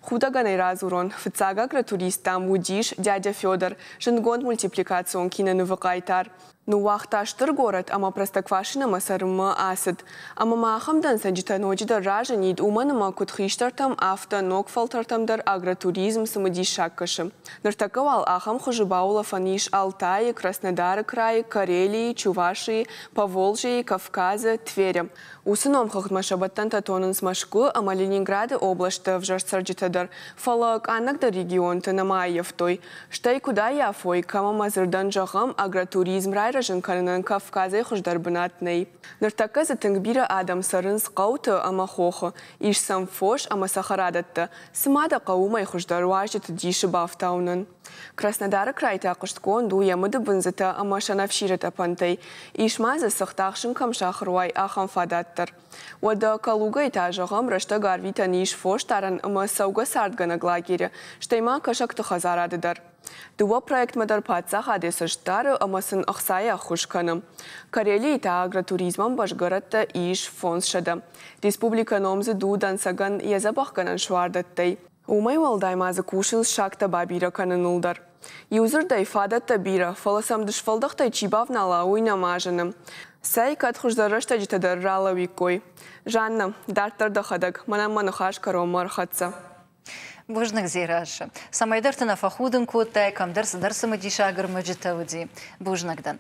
Худӕгӕн ӕй радзурон, фыццаг агротурист, дам, уыдис дядя Федор, зындгонд мультипликацион кинонывы хъайтар. Ныууагъта стыр горӕт ӕмӕ Простоквашинӕмӕ цӕрынмӕ ацыд. Ӕмӕ ма ахӕм дӕнцӕджытӕ ноджыдӕр разынид, уымӕн ӕмӕ куыд хистӕртӕм, афтӕ ног фӕлтӕртӕм дӕр агротуризм цымыдисаг кӕсы. Ныртӕккӕ уал ахӕм хуызы баулӕфӕн ис Алтайы, Краснодары крайы, Карелийы, Чувашийы, Поволжьейы, Кавказы, Тверы. Уыцы номхыгъдмӕ сӕбӕттӕнтӕ тонынц Мӕскуы ӕмӕ Ленинграды областты ӕвзӕр цӕрджытӕ дӕр, фӕлӕ къаннӕгдӕр регионты нӕма ӕййӕфтой. Стӕй куыд аййафой, кӕм ӕмӕ дзырдӕн зӕгъӕм, агротуризм райрӕзын кӕнынӕн Кавказӕй хуыздӕр бынат нӕй. Ныртӕккӕ дзы тынг бирӕ адӕм цӕрынц хъӕуты ӕмӕ хохы, ис сӕм фос ӕмӕ цӕхӕрадӕттӕ. Цы ма дӕ хъӕуы уымӕй хуыздӕр уазджыты дисы бафтауынӕн? Краснодары край та хъуыстгонд у йӕ мыдыбындзытӕ ӕмӕ сӕнӕфсиры тъӕпӕнтӕй. Ис ма дзы, цыхт ахсын кӕм сахыр уай, ахӕм фадат дӕр. Уӕдӕ Калугӕйы та, зӕгъӕм, рӕстӕг арвитӕн ис фосдарӕн ӕмӕ цӕугӕ цардгӕнӕг лагерьы, стӕй ма кӕсӕгты хӕдзарады дӕр. Дыууӕ проектмӕ дӕр паддзахад йӕ цӕст дары ӕмӕ сын ӕхцайы ӕххуыс кӕны. Карелийы та агротуризмӕн басгӕрӕттӕ ис фондзсӕдӕ. Республикӕ номдзыд у дӕнцӕгӕн йӕ дзӕбӕхгӕнӕн суардӕттӕй. Уымӕй уӕлдай ма дзы кусынц сагтӕ бабирӕ кӕныныл дӕр. Иу дзырдӕй, фадӕттӕ бирӕ, фӕлӕ сӕм дысфӕлдӕхтӕй чи бавнала, уый нӕма зыны. Цӕй, кӕд хуыздӕр рӕстӕджытӕ дӕр ралӕууиккой. Жаннӕ, дарддӕр дӕхӕдӕг, мӕнӕн мӕ ныхас кӕронмӕ ӕрхӕццӕ. Бузныг, Дзерассӕ, цӕмӕйдӕрты нӕ фӕхудын кодтай, кӕмдӕр цыдӕр цымыдисаг рмӕджытӕ уыди. Бузныг дӕн.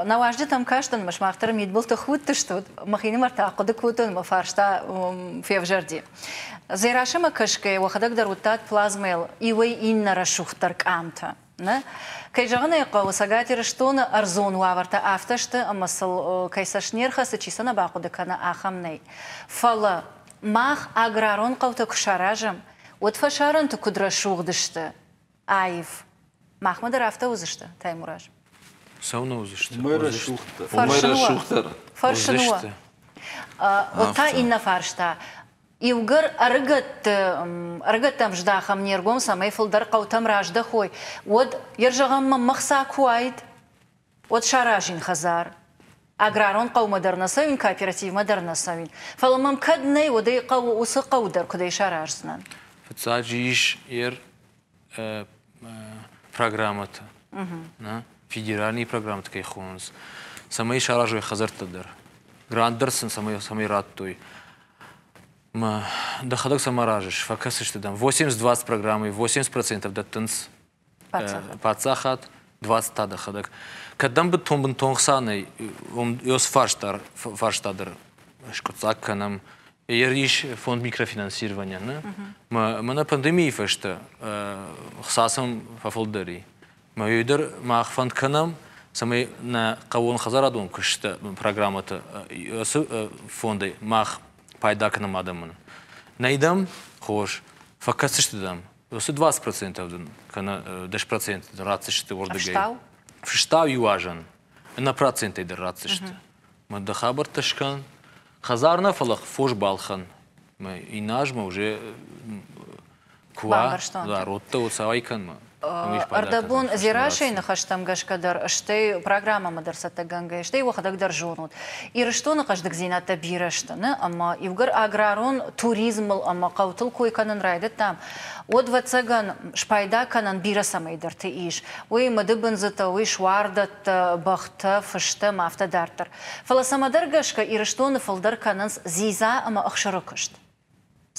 Нӕ уазджытӕм кастӕн, ӕмӕ сымах дӕр мидбылты худтыстут, мӕхинымӕр та хъуыды кодтон ӕмӕ фарста февзӕрди. Дзерасӕмӕ кӕсгӕ уӕхӕдӕг дӕр уыдтат плазмӕйыл иуӕй-иннӕ рӕсугъддӕр къамтӕ. Нӕ, кӕй зӕгъын ӕй хъӕуы, Цӕгат Ирыстоны ӕрдзон уавӕртӕ афтӕ сты, ӕмӕ сыл кӕй цӕст не рхӕцы, чи сӕ нӕ бахъуыды кӕны, ахӕм нӕй. Фӕлӕ мах аграрон хъӕутӕ куы саразӕм, уӕд фӕсарӕнты куыд рӕсугъд сты, Аив. Махмӕ дӕр афтӕ уыдзысты, Таймураз? Цӕуылнӕ уыдзысты? Мӕй рӕсугъддӕр. Мӕй рӕсугъддӕр. Фӕрсын уӕ. Уӕд та иннӕ фарста. Иугӕр ӕрыгӕтты ӕрыгӕттӕм здахӕм не ргом, цӕмӕй фылдӕр хъӕутӕм раздӕхой, уӕд, йӕ зӕгъӕн мӕм мӕхца куы уаид, уӕд саразин хӕдзар. Аграрон хъӕумӕ дӕр нӕ цӕуин, кооперативмӕ дӕр нӕ цӕуин. Фӕлӕ мӕм кӕд нӕй, уӕд ӕй хъӕуы уыцы хъӕу дӕр куыдӕй сараздзынӕн. Фыццаджы ис ӕр программӕтӕ, нӕ федеральные программӕтӕ кӕй хонынц, цӕмӕй саразой хӕдзӕрттӕ дӕр. Грант дӕр сын цӕмӕй, цӕмӕй радтой. Дӕхӕдӕг сӕм аразыс, фӕкӕсыс ты дӕм. 80-20 программӕйы 80% дӕттынц паддзахад 20-та дӕхӕдӕг. Кӕддӕм быдтон бынтон хца нӕй, уым ёс фарста фарста дӕр скъуыддзаг кӕнӕм. Ерис фонд микрофинансирования, не? Мӕнӕ пандемийы фӕстӕ хца сӕм фӕфылдӕр и. Мӕ ёй дӕр мах фӕнд кӕнӕм, цӕмӕй нӕ хъӕууон хӕдзарадон куыстӕ программӕтӕ ацы фондӕй мах пайда кӕнӕм адӕмӕн. Нӕй дӕм хорз, фӕкӕсдзысты дӕм, Уыцы 20 процентов дын кӕнӕ 10 процент ратдзысты уырдыгӕй. Фыстау? Фыстау иу азӕн ӕнӕ процентӕй дӕр ратдзысты. Мӕ дӕ хабӕрттӕ скӕн. Хӕдзар нӕ, фӕлӕ фос балхӕн. Мӕ иннӕ азмӕ уже куы уа, зӕроттӕ цауай кӕнмӕ. Ӕрдӕбон Дзерасийы ныхӕстӕм гӕсгӕ дӕр, стӕй программӕмӕ дӕр цӕттӕгӕнгӕйӕ, стӕй уӕхӕдӕг дӕр зонут, Ирыстоны хъӕздыгдзинӕдтӕ бирӕ сты нӕ ӕмӕ иугӕр аграрон туризмыл ӕмӕ хъӕутыл кой кӕнын райдыдтам, уӕд, ӕвӕццӕгӕн, спайда кӕнӕн бирӕ цӕмӕйдӕрты ис, уый мыдыбындзытӕ, уый суардӕттӕ, бӕхтӕ, фыстӕм, афтӕ дарддӕр. Фӕлӕ цӕмӕдӕр гӕсгӕ Ирыстоны фылдӕр кӕнынц дзидза ӕмӕ ӕхсыры куыст.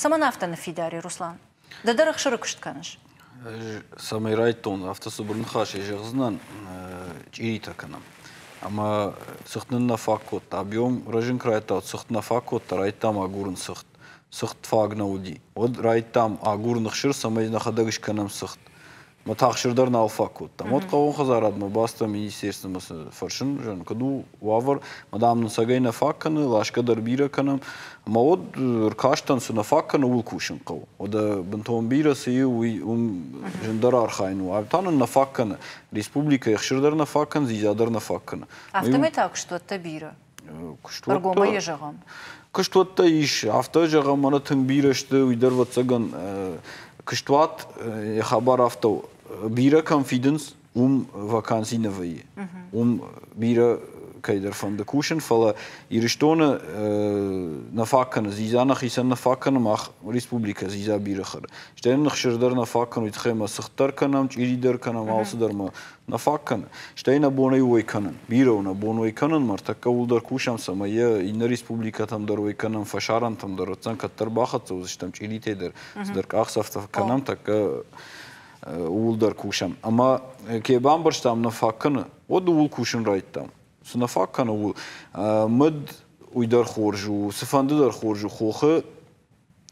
Цӕмӕн афтӕ ныффидари, Руслан? Ды дӕр ӕхсыры куыст кӕныс? Цӕмӕй райдтон, афтӕ цыбыр ныхасӕй зӕгъдзынӕн, чъиритӕ кӕнӕм. Ӕмӕ цыхт нын нӕ фаг кодта. Объем рӕзын куы райдта, цыхт нӕ фаг кодта, райдтам агурын цыхт. Цыхт фаг нӕ уыди. Уӕд райдтам агурын ӕхсыр, цӕмӕй нӕхӕдӕг скӕнӕм цыхт. Мы тахсыр дӕр нал фаг кодтам. Уӕд хъӕуон хӕдзарадмӕ бацыдтӕн министерствомӕ цы фӕрсын, зӕгъын, куыд у уавӕр. Мадам нын цӕгӕй нӕ фаг кӕны, ласгӕ дӕр бирӕ кӕнӕм. Ӕмӕ уӕд ӕркастӕн, цы нӕ фаг кӕны, ууыл кусын хъӕуы. Уӕдӕ бынтон бирӕ цы и, уый уым зындӕр архайын у. Ӕви та нын нӕ фаг кӕны? Республикӕ ехсыр дӕр нӕ фаг кӕны, дзидза дӕр нӕ фаг кӕны. Афтӕмӕй та куыстуӕттӕ бирӕ. Куыст ӕргомӕй зӕгъӕм. Куыстуӕттӕ ис, афтӕ зӕгъӕм, ӕнӕ тынг бирӕ сты, уый дӕр вӕццӕгӕн куыстуат йӕ хабар афтӕ у, бирӕ кӕм фидынц, уым ваканси нӕ вӕййы. Уым бирӕ кӕйдӕр фӕнды кусын, фӕлӕ Ирыстоны нӕ фаг кӕны дзидза нӕхицӕн нӕ фаг кӕны мах республикӕ дзидза бирӕ хӕры. Стӕй нын хсыр дӕр нӕ фаг кӕны, уый тыххӕй мӕ цыхт дӕр кӕнӕм, чъири дӕр кӕнӕм, алцыдӕр мӕ Нӕ фаг кӕны, стӕй нӕ бон ӕй уой кӕнын. Бирӕ у нӕ бон уой кӕнын, мӕртӕккӕ уылдӕр кусӕм, цӕмӕй йӕ иннӕ республикӕтӕм дӕр уой кӕнӕм, фӕсарӕнтӕм дӕр уыдзӕн, кӕддӕр бахӕццӕ уыдзыстӕм чъиритӕй дӕр, цыдӕр къахдзӕфтӕ кӕнӕм, тӕккӕ ууыл дӕр кусӕм. Ӕмӕ кӕй бамбӕрстам, нӕ фаг кӕны, уӕд ууыл кусын райдтам. Цы нӕ фаг кӕны, у мыд уый дӕр хорз у, цыфӕнды дӕр хорз у, хохы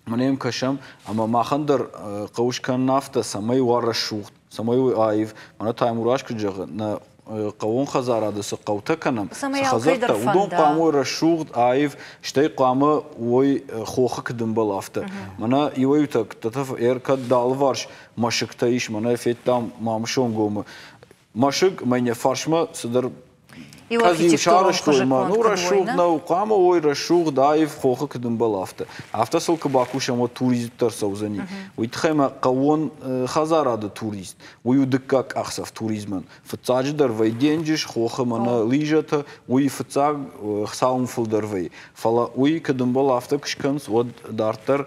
Ма нӕм кӕсӕм ӕмӕ махӕн дӕр хъуы скӕнын афтӕ, цӕмӕй уа рӕсугъд, цӕмӕй аив. Мӕнӕ та Мурас куыд зӕгъы, нӕ хъӕууон хӕдзарады цы хъӕутӕ кӕнӕм, цы хӕдзӕрттӕ, уыдон хъуамӕ уой рӕсугъд, аив, стӕй хъуамӕ уой хохы куыдымбыл афтӕ. Мӕнӕ иуӕй-иутӕ ӕркӕд алыварс мӕсыгтӕ ис, мӕнӕ федтам Мамысонгомы Мӕсыг мӕ не фарсмӕ цыдӕр кӕд-иу сарӕзтой мӕ, ну рӕсугъд нӕу, хъуамӕ уой рӕсугъд, аив, хохы куыд ӕмбӕл, афтӕ. Афтӕ сыл куы бакусӕм, уӕд турист дӕр цӕудзӕни. Уый тыххӕй мӕ хъӕуон хӕдзарады турист, уый у дыккаг къахдзӕф туризмӕн. Фыццаджыдӕр вӕй денджыз, хохы мӕнӕ лижӕтӕ, уый фыццаг цауын фылдӕр вӕйы. Фӕлӕ уый куыд ӕмбӕл, афтӕ куы скӕнынц, уӕд дарддӕр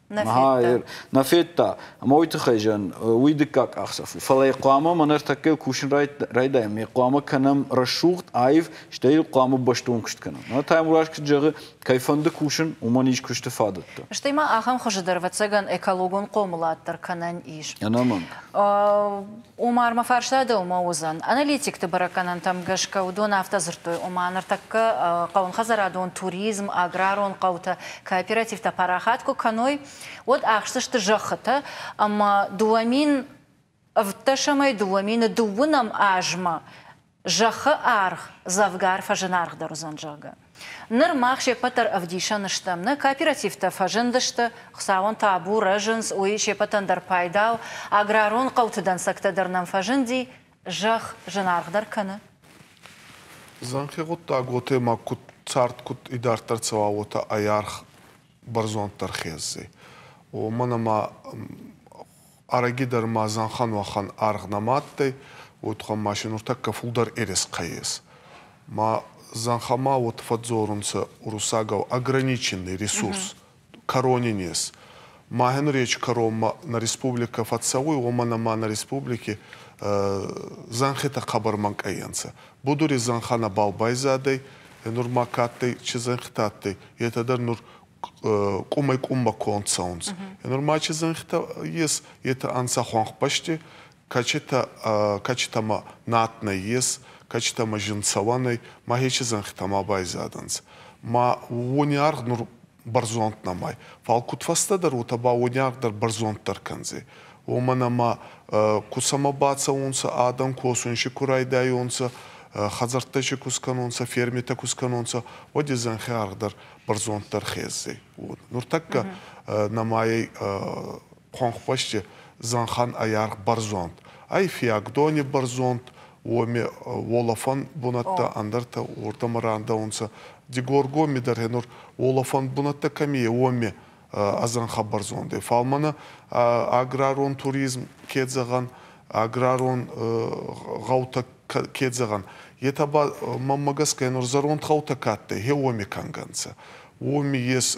Нӕ федта. Нӕ федта. Ӕмӕ уый тыххӕй зӕн уый дыккаг къахдзӕф у. Фӕлӕ йӕ хъуамӕ мӕн ӕртӕккӕ кусын райдайӕм. Йӕ хъуамӕ кӕнӕм рӕсугъд аив, стӕй йыл хъуамӕ бӕстон куыст кӕнӕм. Мӕнӕ Таймураз куыд зӕгъы, кӕй фӕнды кусын, уымӕн ис куысты фадӕттӕ. Стӕй ма ахӕм хуызы дӕр, ӕвӕццӕгӕн, экологон хъомылад дӕр кӕнӕн ис. Ӕнӕмӕнг. Омар, мӕ фарста дӕу ма уыдзӕн. Аналитикты бӕрӕггӕнӕнтӕм гӕсгӕ уыдон афтӕ дзырдтой, ома ныртӕккӕ хъӕуынхӕдзарадон, туризм, аграрон хъӕутӕ кооперативтӕ парахат куы кӕной, уӕд ахсдзысты зӕххытӕ ӕмӕ дыууӕ мин ӕвддӕсӕмӕй дыууӕ мины дыууынӕм азмӕ Зӕххы аргъ дзӕвгар фӕзынаргъдӕр уыдзӕн, зӕгъгӕ. Ныр мах се ппӕт дӕр ӕвдисӕн стӕм, нӕ кооперативтӕ фӕзындысты, Хуыцауӕн табу, рӕзынц, уый се ппӕтӕн дӕр пайда у, аграрон хъӕуты дӕнцӕгтӕ дӕр нӕм фӕзынди, зӕхх зынаргъдӕр кӕны. Дзӕнхи гъуддаг уотемӕ куд цард, куд идарддӕр цӕуа уотӕ ӕй арх бӕрзонддӕр хеззи. Уомӕн ӕма ӕрӕгидӕр ма зӕнхан уӕхӕн аргъ нӕма адтӕй, уотӕ ма си нуртӕккӕ фулдӕр ерескъӕ ес. Ма зӕнхӕмӕ уотӕ фӕдздзорунцӕ уруссагау ограниченный ресурс, кӕрони нез. Мӕхе речи кӕронмӕ нӕ республикӕ фӕццӕуй, уомӕн ӕма нӕ республики зӕнхитӕ хъӕбӕр мӕнкъайӕнцӕ. Будури зӕнхӕ нӕбал байзадӕй, нур ма ка адтӕй, чи зӕнхитӕ адтӕй, етӕ дӕр нур къумӕй-къуммӕ конд цӕунцӕ. Нур ма чи зӕнхитӕ ес, етӕ ӕнцӕ хуӕнхбӕсти, кӕчитӕмӕ над нӕййес, кӕчитӕмӕ зиндцӕуӕн ӕй, мӕхе чи зӕнхитӕ ма байзадӕнцӕ. Ма уони аргъ нур бӕрзонд нӕмӕй. Фал кудфӕстӕдӕр уотӕ ба уодиаг дӕр бӕрзонддӕр кӕндзӕй. Уомӕн ӕма ку сӕмӕ бацӕунцӕ, адӕн косун си ку райдайонцӕ, хӕдзӕрттӕ си ку скӕнонцӕ, фермитӕ ку скӕнонцӕ, уӕд е зӕнхи аргъ дӕр бӕрзонддӕр хездзӕй. Нуртӕккӕ нӕмайӕй Хуӕнхбӕсти зӕнхӕн ӕй аргъ бӕрзонд ӕй, фиагдони бӕрзонд, уоми уолӕфӕн бунӕттӕ ӕндӕртӕ уордӕмӕ рандӕунцӕ. Дигоргоми дӕр гьенур уолӕфӕн бунӕттӕ кӕми ӕй, уоми ӕ зӕнхӕ бӕрзондӕй. Фал мӕнӕ аграрон туризм ке зӕгъӕн, аграрон гъӕутӕ ке зӕгъӕн, етӕ ба, мӕнмӕ гӕсгӕ, нур зӕронд гъӕутӕ ка адтӕй, гье уоми кӕнгӕ нцӕ. Уоми ес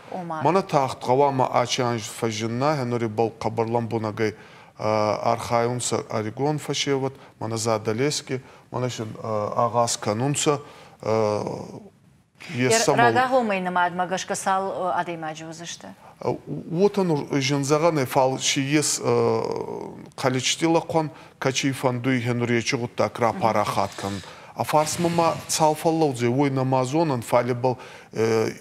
ома. Мӕнӕ тагъд гъӕуама ачи анз фӕззинна, гьенурибӕл хъӕбӕр лӕмбунӕгӕй архайунцӕ ӕригон фӕсевӕд, мӕнӕ Задӕлески, мӕнӕ син агъаз кӕнунцӕ, Есӕмӕл... Рагагъомӕй нымадмӕ гӕсгӕ цал адӕймаджы уыдзысты? Уотӕ нур зин зӕгъӕн ӕй, фал си ес количети лӕхъуӕн, кӕци фӕндуй гьенуречи гъуддаг рапарахат кӕнун. А фарсмӕ ма цал фӕллӕудзӕй, уой нӕма зонӕн, фал ибӕл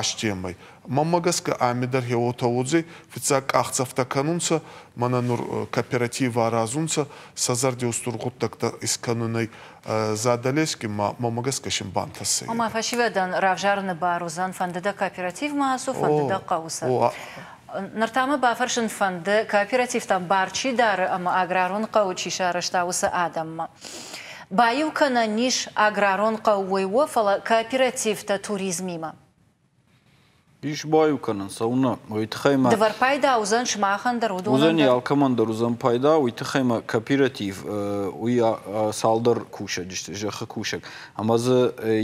астемӕй. Мӕнмӕ гӕсгӕ ами дӕр хе уотӕ уодзӕй, фиццаг къахдзӕфтӕ кӕнунцӕ, мӕнӕ нур кооператив аразунцӕ сӕ зӕрдеустур гъуддӕгтӕ искӕнунӕй. Задӕлески ма мӕнмӕ гӕсгӕ син бантӕсӕй. Ома фӕсивӕдӕн равзаруни бар уодзӕн фӕндидӕ кооперативмӕ ацу, фӕндидӕ хъӕуцӕ. Ныр та мӕ бафӕрсын фӕнды, кооперативтӕ бар чи дары ӕмӕ аграрон хъӕуы чи сарӕзта, уыцы адӕммӕ. Баиу кӕнӕн ис аграрон хъӕуой уо, фӕлӕ кооперативтӕ туризмимӕ. Ис баиу кӕнӕн, цӕуына, уый тыххӕй ма. Дывӕр пайда уыдзӕн сымахӕн дӕр, уыдонӕн уыдзӕн дӕр. Алкӕмӕн дӕр уыдзӕн пайда, уый тыххӕй ма кооператив уый цалдӕр кусӕджы сты, зӕххы кусӕг, ӕмӕ дзы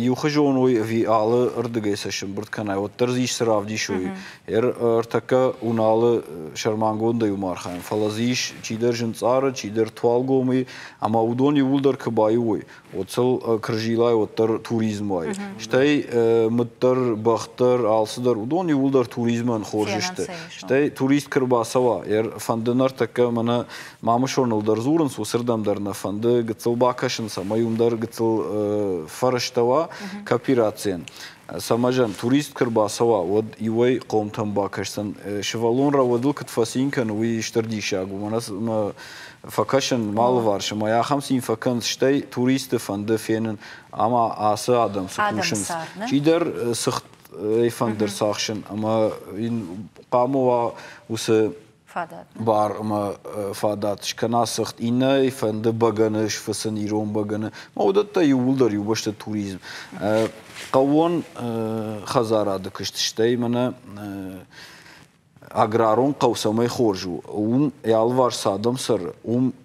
иухуызон уой ӕви алы рдыгӕй сӕ сӕмбырд кӕнай, уӕддӕр дзы ис цы равдисой Ӕртӕккӕ Уналы сӕрмагондӕй уым архайӕм, фӕлӕ дзы ис чидӕр зынцъары, чидӕр туалгомыйы, ӕмӕ уыдон иууылдӕр куы баиу уой, уӕд сыл кырзилӕй уӕддӕр туризм уайы. Стӕй мыддӕр, бӕхдӕр, алцыдӕр, уыдон иууылдӕр туризмӕн хорз сты. Стӕй турист куы рбацӕуа, фӕнды ныртӕккӕ мӕнӕ Мамысоныл дӕр дзурынц, уыцырдӕм дӕр нӕ фӕнды гыццыл бакӕсынц ӕмӕ уым дӕр гыццыл фӕрӕзтӕ уа кооперацийӕн. Цӕмӕзӕн, турист куы рбацӕуа, уӕд иуӕй хъомтӕм бакӕсдзӕн, сывӕллон рауадыл куыд фӕцин кӕны, уый стыр диссаг у. Мӕнӕ фӕкӕсын мӕ алыварс ӕмӕ ахӕм цин фӕкӕн, стӕй туристты фӕнды фенын, ӕмӕ ацы адӕм цы кусынц. Чидӕр сыгъд фӕнды рцахсын ӕмӕ йын хъуамӕ уа уыцы фадат. Бар ӕмӕ фадат скӕна сыгъд иннӕ фӕнды бӕгӕны сфыцын ирон бӕгӕны. Ма уыдӕттӕ иууылдӕр иу бӕсты туризм. Хъӕууон хӕдзарады куыст, стӕй мӕнӕ аграрон хъӕу цӕмӕй хорз у, уым йӕ алыварс цы адӕм цӕры, уым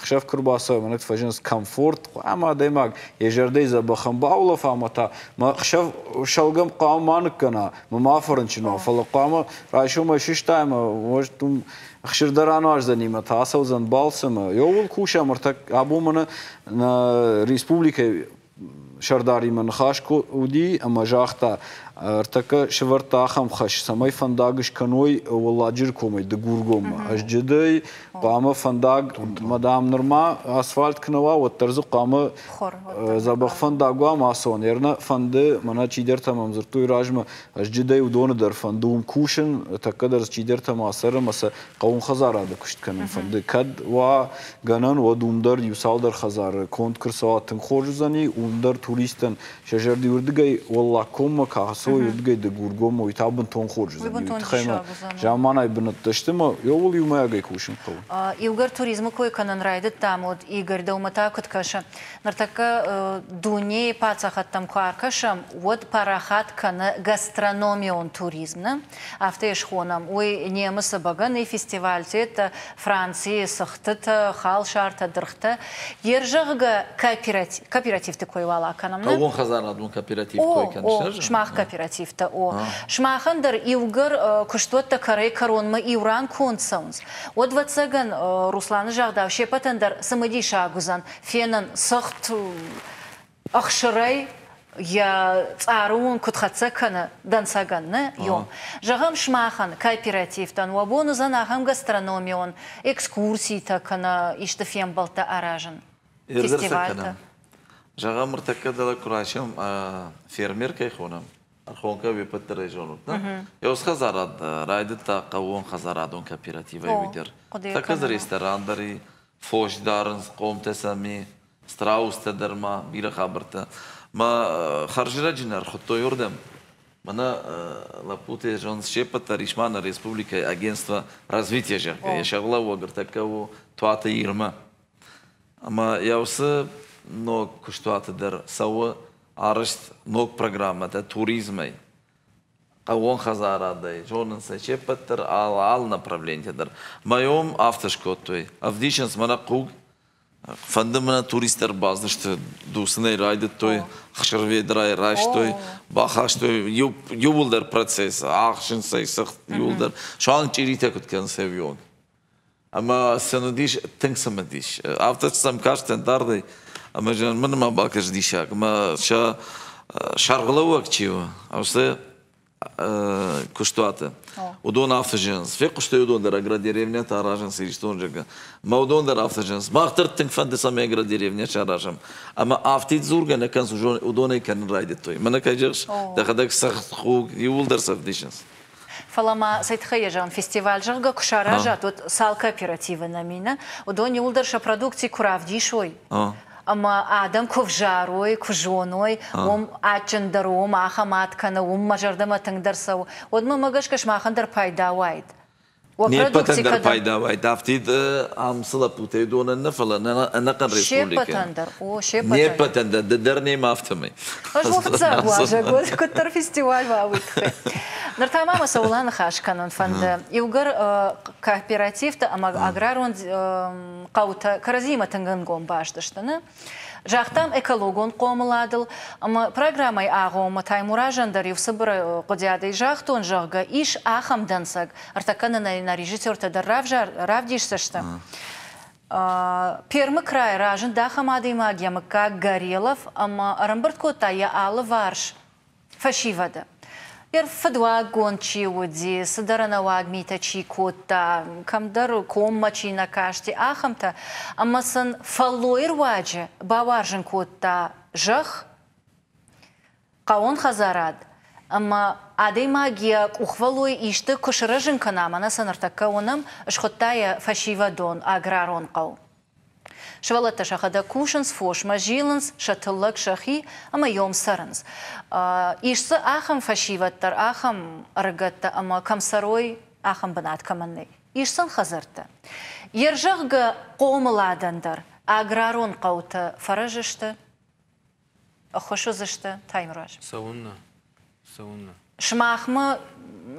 Хсӕв куы рбацӕуӕм, уӕд фӕзынынц комфорт, хъуамӕ адӕймаг йӕ зӕрдӕйы дзӕбӕхӕн баулӕфа ӕмӕ та мӕ хсӕв сӕлгӕм хъуамӕ ма ныккӕна, мӕ ма фӕрынчын уа, фӕлӕ хъуамӕ райсомӕй сыстайӕм уӕд уым хсыр дӕр ануаздзӕни мӕ та ацӕудзӕн балцы мӕ ӕууыл кусӕм ӕртӕ абон мӕнӕ нӕ республикӕйы сӕрдаримӕ ныхас уыди ӕмӕ загъта, ӕртӕккӕ сывӕрдта ахӕм хӕс, цӕмӕй фӕндаг скӕной Уӕлладжыры комӕй Дыгургоммӕ. Ӕз джыдӕй хъуамӕ фӕндаг, мадам, нырма асфальт куы нӕ уа, уӕддӕр дзы хъуамӕ дзӕбӕх фӕндаг уа массон. Ернӕ фӕнды, мӕнӕ чидӕртӕ мӕм дзырдтой размӕ, ӕз джыдӕй уыдоны дӕр фӕнды уым кусын, тӕккӕ дӕр дзы чидӕртӕ ма цӕры, ӕмӕ сӕ хъӕуынхӕдзарады куыст кӕнын фӕнды. Кӕд уа гӕнӕн, уӕд уым дӕр иу-цалдӕр хӕдзары конд куы рцӕуа тынг хорз уыдзӕни, уым дӕр туристтӕн сӕ зӕрды уырдыгӕй Уӕллагкоммӕ куы ацӕуой, уырдыгӕй Дыгургоммӕ, уый та бынтон хорз уыдзӕн. Уый тыххӕй ма заманай бынӕттӕ сты ӕмӕ ӕууыл иумӕйагӕй кусын хъӕуы. Иугӕр туризмы кой кӕнын райдыдтам, уӕд Игорь дӕумӕ та куыд кӕсы? Ныртӕккӕ дунейы паддзахадтӕм куы ӕркӕсӕм, уӕд парахат кӕны гастрономион туризм, нӕ? афтӕ схонӕм, уый немыцы бӕгӕныйы фестивальтӕ, Францийы цыхтытӕ, халсартӕ, дыргътӕ, йе рзӕгъгӕ кооперативты кой уал акӕнӕм. Хъӕууон хӕдзарадон кооператив кой кӕныс? Сымах кооперативтӕ у. Сымахӕн дӕр иугӕр куыстуӕттӕ кӕрӕй-кӕронмӕ иу ран конд цӕуынц, уӕд, ӕвӕццӕгӕн, Русланы загъдау, се ппӕтӕн дӕр цымыдисаг уыдзӕн фенын цыхт, ӕхсырӕй йӕ цъару уын куыд хӕццӕ кӕны дӕнцӕгӕн нӕ ем. Зӕгъӕм, сымахӕн, кооперативтӕн уӕ бон уыдзӕн ахӕм гастрономион экскурситӕ кӕнӕ исты фембӕлдтӕ аразын. Ӕрдӕрсӕг кӕнӕм. Зӕгъӕм, ӕртӕккӕ дӕлӕ куы расӕм, фермер кӕй хонӕм, ӕрхонкӕ уе ппӕт дӕр ӕй зонут, нӕ? Еус хӕдзарад райдыдта хъӕууон хӕдзарадон кооперативӕй уый дӕр. Тӕккӕ дзы ресторан дӕр и, фос дарынц, хъомтӕ сӕм и, страустӕ дӕр ма бирӕ хабӕрттӕ. Мӕ хӕрзирӕджын ӕрхуыдтой уырдӕм. Мӕнӕ лӕппуты зонд се ппӕт дӕр ис ма нӕ республикӕйы агентство развития зӕгъгӕ. Йӕ сӕргълӕууӕг ӕртӕккӕ у Туаты Ирмӕ. Ӕмӕ йӕ уыцы ног куыстуаты дӕр цӕуы арӕзт ног программӕтӕ туризмӕй, хъӕууон хӕдзарадӕй, зонынц ӕй се ппӕт дӕр, алы направленийтӕ дӕр. Мӕ ом афтӕ скодтой. Ӕвдисынц мӕнӕ хъуг Фӕнды мӕ туристтӕ ӕрбацыдысты дуцынӕй райдыдтой, хсырведрайы райстой, бахастой иу, иууылдӕр процесс, ӕхсынц ӕй сыгъд иууылдӕр, суанг чъиритӕ куыд кӕнынц ӕвион. Ӕмӕ сын уыдис тынг цымыдис. Афтӕ сӕм кастӕн дардӕй, ӕмӕ мын ма бакӕс диссаг, ӕмӕ сӕ сӕргълӕууӕг чи у, уыцы куыстуаты. Уыдон афтӕ зӕгъынц. Фехъуыстой уыдон дӕр, агродеревнӕтӕ аразынц Иристон зӕгъы. Мӕ уыдон дӕр афтӕ зӕгъынц. Мах дӕр тынг фӕнды, цӕмӕй агродеревнӕ саразӕм. Ӕмӕ афтид дзургӕ нӕ кӕнынц, уыдонӕй кӕнын райдыдтой. Мӕнӕ кӕй зӕгъыс, дӕхӕдӕг цӕгъд-хуг иууылдӕр цӕгъдисынц. Фӕлӕ ма цӕй тыххӕй йӕ зӕгъын, фестиваль зӕгъгӕ куы саразат, уӕд цал кооперативы нӕ мины, уыдон иууылдӕр сӕ продукци куы равдисой, ӕмӕ адӕм куы взарой, куы зоной, уым адджындӕр уым, ахӕм ад кӕны, уым мӕ зӕрдӕмӕ тынгдӕр цӕуы, уӕдмӕ мӕ гӕсгӕ сымахӕн дӕр пайда уайд. уӕ Не ппӕтӕн дӕр пайда уайд, афтид ам цы лӕппутӕй донӕн нӕ, фӕлӕ ӕнӕхъӕн республикӕ. дӕр, о, се ппӕтӕн дӕр, ды дӕр нӕм афтӕмӕй. Ӕз уӕ фыццаг уазӕг уӕд, куыддӕр фестиваль уа, уый тыххӕй. Ныр та ма мӕ цӕуыл аныхас кӕнын фӕнды, иугӕр кооперативтӕ ӕмӕ аграрон хъӕутӕ кӕрӕдзимӕ тынг ӕнгом баст сты нӕ. Загътам экологон хъомыладыл ӕмӕ программӕйы агъоммӕ Таймуразӕн дӕр-иу цыбыр хъуыдиадӕй загътон, зӕгъгӕ, ис ахӕм дӕнцӕг, ӕртӕкӕнынӕй нӕ режиссертӕ дӕр равдисдзыстӕм. Пермы крайы разынд ахӕм адӕймаг, йӕ мыггаг Горелов, ӕмӕ ӕрӕмбырд кодта йӕ алыварс Фӕсивӕды. Йӕ фыдуаггонд чи уыди, цыдӕр ӕнӕуаг митӕ чи кодта, кӕмдӕр коммӕ чи нӕ касти, ахӕмтӕ, ӕмӕ сын фӕллойы руаджы бауарзын кодта зӕхх, хъӕуон хӕдзарад ӕмӕ адӕймаг йӕ къухвӕллой исты куы сырӕзын кӕна, мӕнӕ цы ныртӕккӕ уынӕм, схуыдта йӕ фӕсивӕдон аграрон хъӕу. Сывӕллӕттӕ сӕхӕдӕг кусынц фосмӕ, зилынц сӕ тыллӕг сӕхи ӕмӕ йом цӕрынц. Ис дзы ахӕм фӕсивӕд дӕр, ахӕм ӕрыгӕттӕ ӕмӕ кӕм цӕрой, ахӕм бынат кӕмӕн нӕй. Ис сын хӕдзӕрттӕ. Йе рзӕгъгӕ хъомыладӕн дӕр аграрон хъӕутӕ фӕрӕз сты. Хуыс уыдзысты Таймураз. Цӕуыннӕ? Цӕуыннӕ? Сымахмӕ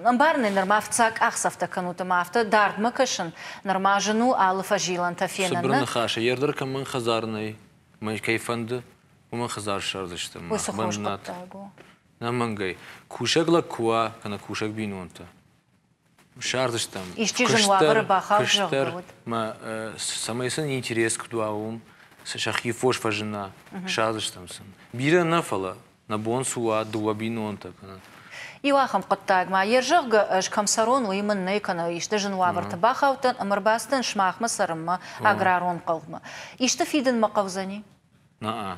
ӕмбарынӕй нырма фыццаг къахдзӕфтӕ кӕнут ӕмӕ афтӕ дардмӕ кӕсын нырма зын у алы фӕзилӕнтӕ фенын. Цыбыр ныхасы, ердыр кӕмӕн хӕдзар нӕй, мӕй кӕй фӕнды, уымӕн хӕдзар ссардзыстӕм. Уый цы хорз хъуыддаг у? Нӕ мӕнгӕй. Кусӕг лӕг куы уа, кӕнӕ кусӕг бинонтӕ. сӕрдыстӕм. Исчи зын уавӕры бахауд, зӕгъгӕ уыд. Цӕмӕй сын интерес куыд уа, уым сӕхи фос фӕзына, сӕрдыстӕм сын. Бирӕ нӕ, фӕлӕ нӕ бон цы уа дыууӕ бинонтӕ кӕнӕ. Иу ахӕм хъуыддагмӕ, йе зӕгъгӕ, ӕз кӕм цӕрон, уый мын нӕй кӕнӕ исты зын уавӕрты бахаудтӕн ӕмӕ ӕрбацыдӕн сымахмӕ цӕрынмӕ аграрон хъӕумӕ. Исты фидынмӕ хъӕудзӕни? Нӕ,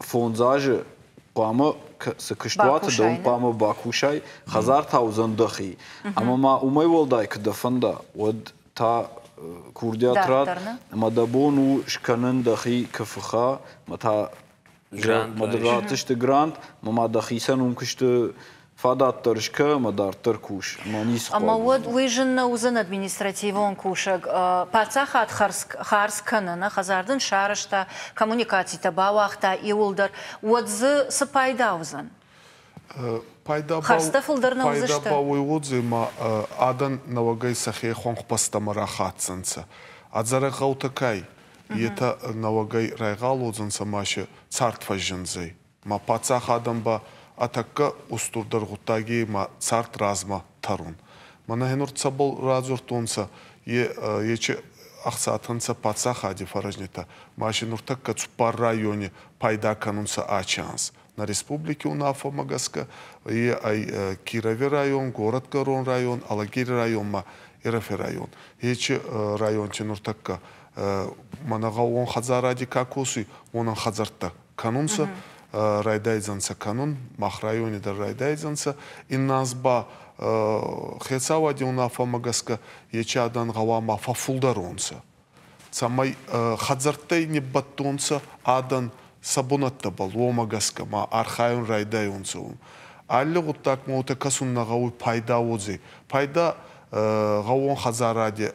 Фондз азы хъуамӕ цы куыстуаты дӕ, уый хъуамӕ бакусай, хӕдзар та уыдзӕн дӕхи. Ӕмӕ ма уымӕй уӕлдай куы дӕ фӕнда, уӕд та курдиат ратт, ӕмӕ дӕ бон у скӕнын дӕхи КФХ-ӕ, ӕмӕ та мӕ ратдзысты грант, ӕмӕ ма дӕхицӕн уым куысты Фадатдӕр скӕ ӕмӕ дарддӕр кус, ма ницы хъуаг Ӕмӕ уӕд уый зын нӕ уыдзӕн административон кусӕг паддзахад хардз кӕны, нӕ хӕдзар дын сарӕзта, коммуникацитӕ бауагъта иуылдӕр, уӕд дзы цы пайда уыдзӕн? Пайда ба уой уодзӕй, ма адӕн нӕуӕгӕй сӕхе хуӕнхбӕстӕмӕ рахӕцдзӕнцӕ. Ӕдзӕрӕг гъӕутӕ кӕй, етӕ нӕуӕгӕй райгъал уодзӕнцӕ ма сӕ цард фӕззиндзӕй. Ма паддзахадӕн ба ӕ тӕккӕ устурдӕр гъуддаги ма цард размӕ тӕрун. Мӕнӕ нур цӕбӕл радзурдтонцӕ, ечи ӕхцатӕ нцӕ паддзахади фӕрӕзнитӕ, ма си нуртӕккӕ цуппар райони пайда кӕнунцӕ ачи анз. Нӕ республики унаффӕмӕ гӕсгӕ е ӕй Кирови район, Горӕтгӕрон район, Алагири районмӕ Ерефи район. Ечи районти нуртӕккӕ мӕнӕ гъӕуон хӕдзаради ка косуй, уонӕн хӕдзӕрттӕ кӕнунцӕ, райдайдзӕнцӕ кӕнун, мах райони дӕр райдайдзӕнцӕ. Иннӕ аз ба хецауади унаффӕмӕ гӕсгӕ ечи адӕн гъӕуама фӕффулдӕронцӕ. Цӕмӕй хӕдзӕрттӕй ниббӕттонцӕ адӕн сӕ бунӕттӕбӕл, уомӕ гӕсгӕ ма архайун райдайонцӕ ун. Алли гъуддаг ма уотӕ кӕсун нӕ гъӕуй пайда уодзӕй. Пайда гъӕуон хӕдзаради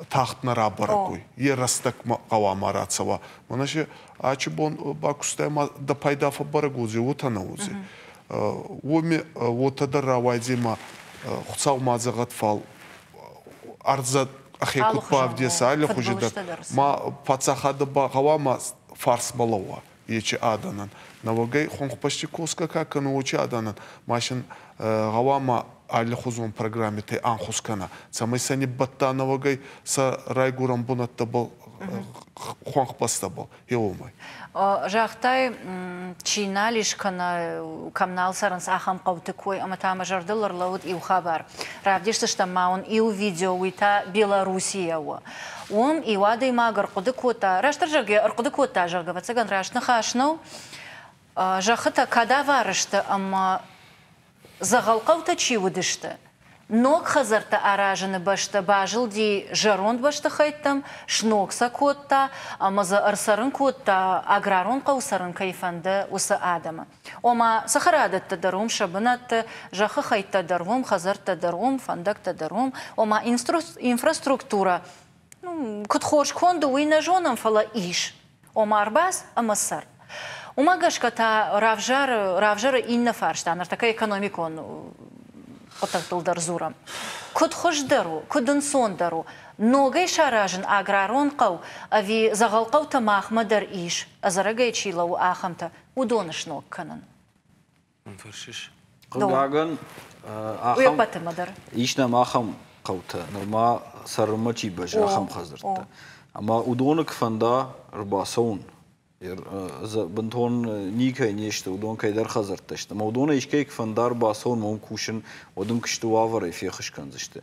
тагъд нӕ рабӕрӕгой. Е рӕстӕгмӕ хъуамӕ рацӕуа. Мӕнӕ се ачи бон бакустӕй ма дӕ пайда фӕбӕрӕг уодзей, уотӕ нӕ уодзей. Уоми уотӕ дӕр рауайдзей ма Хуцау ма дзӕгъӕт фал ӕрдзӕ ӕхе куд бавдеса аллихузи дӕр. Ма паддзахадӕ ба гъӕуама фарс балӕууа. ечи адӕнӕн. Науӕгӕй хонхбӕсти косгӕ ка кӕнуй, уочи адӕнӕн машин гъӕуама аллихузон программитӕй анхус кӕна, цӕмӕй сӕ ниббӕтта науӕгӕй сӕ райгурӕн бунӕттӕбӕл, хуӕнхбӕстӕбӕл, еуомӕй. Загътай, чи нал ис кӕнӕ кӕм нал цӕрынц, ахӕм хъӕуты кой, ӕмӕ та мӕ зӕрдыл ӕрлӕууыд иу хабар. Равдисдзыстӕм ма уын иу видео, уый та Белорусийӕ у. уым иу адӕймаг ӕрхъуыды кодта, растдӕр зӕгъгӕ, ӕрхъуыды кодта, зӕгъгӕ, ӕвӕццӕгӕн раст ныхас нӕу, зӕххытӕ кӕд ӕвӕрысты ӕмӕ дзӕгъӕл хъӕутӕ чи уыдысты, ног хӕдзӕрттӕ аразыны бӕсты базылди зӕронд бӕстыхӕйттӕм, сног сӕ кодта ӕмӕ дзы ӕрцӕрын кодта, аграрон хъӕу цӕрын кӕй фӕнды, уыцы адӕмы. Ома, цӕхӕрадӕттӕ дӕр уым, сӕ бынӕтты, зӕххы хӕйттӕ дӕр уым, хӕдзӕрттӕ дӕр уым, фӕндӕгтӕ дӕр уым, ома инфраструктурӕ куыд хорз конд у, уый нӕ зонӕм, фӕлӕ ис, ома ӕрбадз ӕмӕ цӕр. Уымӕ гӕсгӕ та равзары, равзары иннӕ фарста, ныртӕккӕ экономикон хъуыддӕгтыл дӕр дзурӕм. Куыд хуыздӕр у, куыд ӕнцондӕр у ногӕй саразын аграрон хъӕу, ӕви дзӕгъӕл хъӕутӕ махмӕ дӕр ис, ӕдзӕрӕгӕй чи лӕууы, ахӕмтӕ. уыдоны сног кӕнын. Фӕрсыс? Хъыгагӕн, ахӕм ис нӕм ахӕм хъӕутӕ, нырма цӕрынмӕ чи бӕззы, ахӕм хӕдзӕрттӕ. Ӕмӕ уыдоны куы фӕнда ӕрбацӕуын, бынтон никӕй не сты, уыдон кӕйдӕр хӕдзӕрттӕ сты, ӕмӕ уыдонӕй искӕй куы фӕнда ӕрбацӕуын, уым кусын, уӕд ын куысты уавӕрӕй феххуыс кӕндзысты.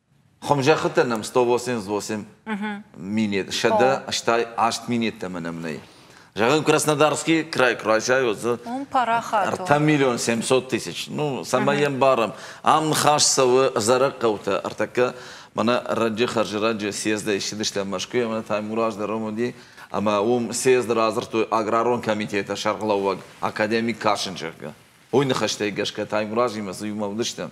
Хумзӕххытӕ нӕм 188 минет, сӕдӕ, стай аст минеттӕмӕ нӕм нӕй. Зӕгъӕм, Краснодарский край куразӕй уыдзы ӕртӕ миллион семьсот тысяч. Ну, цӕмӕй йӕм барӕм. Ам ныхас цӕуы Зӕрӕг хъӕутӕ. Ӕртӕккӕ мӕнӕ раджы хӕрзӕрӕджы съездӕй ссыдыстӕм Мӕскуыйӕ, мӕнӕ Таймураз дӕр ом уыди, ӕмӕ уым съезды радзырдтой аграрон комитеты сӕргълӕууӕг, академик кӕсын, зӕгъгӕ. Уый ныхӕстӕй гӕсгӕ Таймуразимӕ дзы иумӕ уыдыстӕм.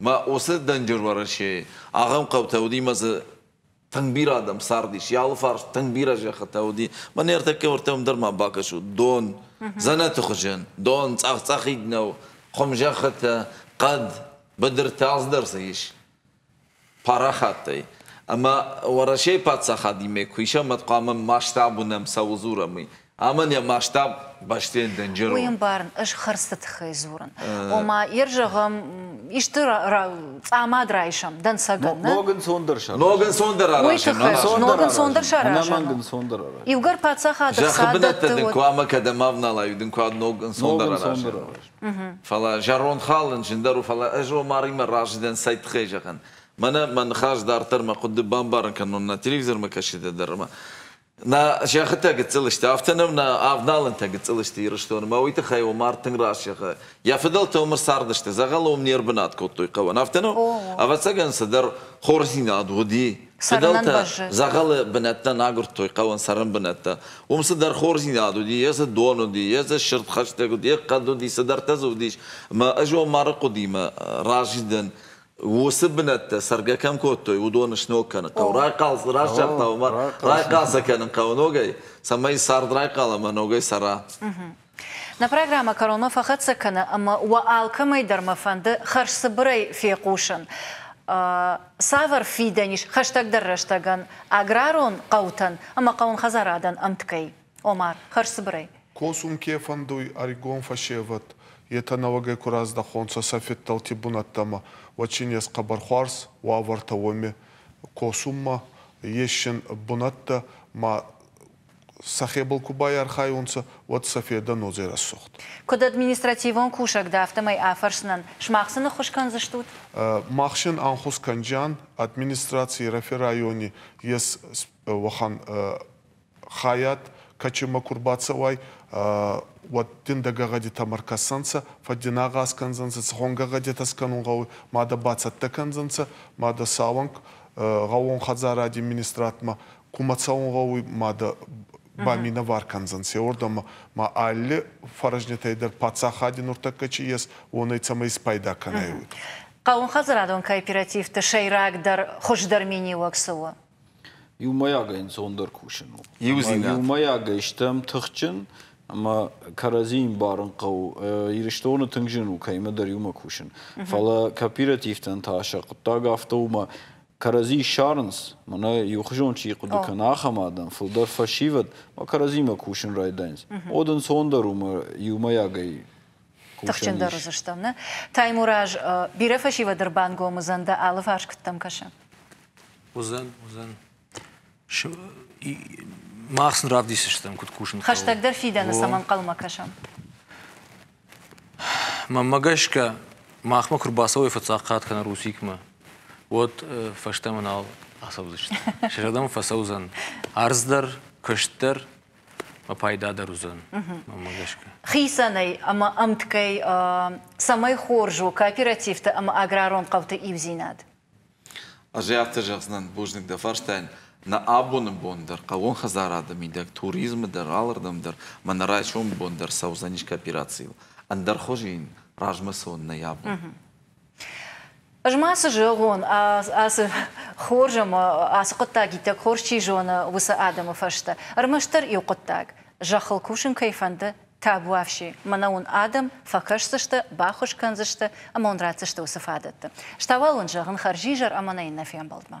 Мӕ уыцы Дӕнджыр Уӕрӕсейы ахӕм хъӕутӕ уыди мӕ дзы тынг бирӕ адӕм цардис. Йӕ алы фарс тынг бирӕ зӕххытӕ уыди. Мӕ не ртӕккӕ уӕртӕм дӕр ма бакӕсут, дон, дзӕнӕты хуызӕн, дон цъӕх-цъӕхид нӕу, хуымзӕххытӕ, хъӕд, быдыртӕ алцыдӕр дзы ис парахаттӕй. Ӕмӕ Уӕрӕсейы паддзахадимӕ куы исӕм, уӕд хъуамӕ масштаб уынӕм, цӕуыл дзурӕм, уый. Ӕмӕ нӕ маста бӕстӕйӕн дӕнджер у. Уый ӕмбарын ӕз хӕрдзты тыххӕй дзурын. Ома, ир зӕгъӕм, исты цъамад райсӕм дӕнцӕгӕн. Ног ӕнцондӕр саразӕм. Ног ӕнцондӕр аразӕм. Ног ӕнцондӕр саразӕм. Ног ӕнцондӕр аразӕм. Иугӕр паддзахады Зӕххы бынӕттӕ дын куы ӕмӕ кӕдӕм авналай, дын куы ног ӕнцондӕр аразӕм. Фӕлӕ зӕронд хал ын зындӕр у, фӕлӕ ӕз Омаримӕ разы дӕн цай тыххӕй зӕгъын. Мӕнӕ мӕ ныхас дарддӕр мӕ хъуыды бамбарын кӕнон, нӕ телевизормӕ кӕсыдӕ дӕр ӕмӕ Нӕ сӕххытӕ гыццыл сты, афтӕ нӕм нӕ авналӕнтӕ гыццыл сты Ирыстоны, мӕ уый тыххӕй у мард тынг раст зӕгъы. Йӕ фыдӕлтӕ уымӕ цардысты, дзӕгъӕл уым не рбынат кодтой хъӕуӕн, афтӕ нӕу? Ӕвӕццӕгӕн, цыдӕр хорздзинад уыди. Фыдӕлтӕ дзӕгъӕлы бынӕттӕ нӕ агуырдтой хъӕуӕн цӕрӕн бынӕттӕ. Уым цыдӕр хорздзинад уыди, йе дзы дон уыди, йе дзы сырд хӕстӕг уыди, йе хъӕд уыди, цыдӕртӕ дзы уыдис. Ӕмӕ ӕз уым мӕры хъуыдимӕ разы дӕн. уыцы бынӕттӕ цӕргӕ кӕм кодтой, уыдон сног кӕны. Хъӕу райхъал раздӕр та уымӕ райхъал сӕ кӕнын хъӕуы ногӕй, цӕмӕй цард райхъал ӕмӕ ногӕй цӕра. Нӕ программӕ кӕронмӕ фӕхӕццӕ кӕны ӕмӕ уӕ алкӕмӕй дӕр мӕ фӕнды хӕрзцыбырӕй фехъусын, цавӕр фидӕн ис хӕстӕгдӕр рӕстӕгӕн аграрон хъӕутӕн ӕмӕ хъӕуын хӕдзарадӕн ӕмткӕй. Омар, хӕрзцыбырӕй. Косун ке фӕндуй ӕригон фӕсевӕд, етӕ нӕуӕгӕй ку раздӕхонцӕ сӕ федтӕлти бунӕттӕмӕ, уӕд син ес хъӕбӕр хуарз уавӕртӕ уоми косунмӕ. Ес син бунӕттӕ, ма сӕхебӕл ку байархайунцӕ, уӕд сӕ федӕ нозе рӕсугъд. Куд административон кусӕг дӕ, афтӕмӕй афӕрсынӕн сымах цы ныххуыс кӕндзыстут? Мах син ӕнхус кӕнджиан, администрацийы рӕфе райони ес уӕхӕн хайад кӕчемӕ ку рбацӕуай, уӕд дин дӕ гӕгъӕдитӕмӕ ркӕсӕнцӕ, фӕддинагъаз кӕндзӕнцӕ, цигъон гӕгъӕдитӕ скӕнун гъӕуй, ма дӕ бацӕттӕ кӕндзӕнцӕ, ма дӕ цауӕнк гъӕуон хӕдзаради министрадмӕ кумӕ цӕун гъӕуй, ма дӕ ба минӕвар кӕндзӕнцӕ уордӕмӕ, ма алли фӕрӕзнитӕй дӕр паддзахади нуртӕккӕ ци ес, уонӕй цӕмӕй испайда кӕнай, уой. Хъӕуӕнхӕдзарадон кооперативты сӕйрагдӕр хуыздӕр миниуӕг цы у? Иумӕйагӕй ӕнцондӕр кусын у. Иумӕйагӕй стӕм тыхджын ӕмӕ кӕрӕдзийы ӕмбарын хъӕуы. Ирыстоны тынг зын у кӕимӕдӕр иумӕ кусын. Фӕлӕ кооперативтӕн та сӕ хъуыддаг афтӕ у ӕмӕ кӕрӕдзи ссарынц, мӕнӕ иухуызон чи хъуыды кӕна, ахӕм адӕм, фылдӕр фӕсивӕд, ӕмӕ кӕрӕдзимӕ кусын райдайынц. Уӕд ӕнцондӕр у ӕмӕ иумӕйагӕй тыхджындӕр уыдзыстӕм, нӕ? Таймураз, бирӕ фӕсивӕд ӕрбангом уыдзӕн дӕ алыварс куыддӕм кӕсы? Уыдзӕн, уыдзӕн. Мах сын равдисдзыстӕм, куыд кусын хъӕуы. Хӕстӕгдӕр фидӕны цӕм ӕнхъӕлмӕ кӕсӕм. Мӕнмӕ гӕсгӕ, махмӕ куы рбацӕуой фӕцӕхъхъӕт кӕнӕ Русикмӕ, уӕд фӕстӕмӕ нал ацӕудзысты. Сӕ зӕрдӕмӕ фӕцӕудзӕн ӕрдз дӕр, куыст дӕр ӕмӕ пайда дӕр уыдзӕн, мӕнмӕ гӕсгӕ. Хицӕнӕй ӕмӕ ӕмткӕй цӕмӕй хорз у кооперативты ӕмӕ аграрон хъӕуты иудзинад? Ӕз ӕй афтӕ зӕгъдзынӕн, бузныг дӕ фарстайӕн. Нӕ абоны бон дӕр, хъӕууон хӕдзарады мидӕг, туризмы дӕр, алырдӕм дӕр мӕ нӕ райсомы бон дӕр цӕудзӕнис кооперацийыл. Ӕндӕр хуызы йын размӕ цӕуын нӕй абон. Ӕз ма цы зӕгъон, ацы хорз ӕмӕ ацы хъуыддаг иттӕг хорз чи зоны, уыцы адӕмы фӕстӕ ӕрмӕстдӕр иу хъуыддаг, зӕххыл кусын кӕй фӕнды, Табуафси, мӕнӕ уын адӕм фӕкӕсдзысты, баххуыс кӕндзысты ӕмӕ уын ратдзысты уыцы фадӕттӕ. Стауал уын зӕгъын хӕрзизӕр ӕмӕ нӕ иннӕ фембӕлдмӕ.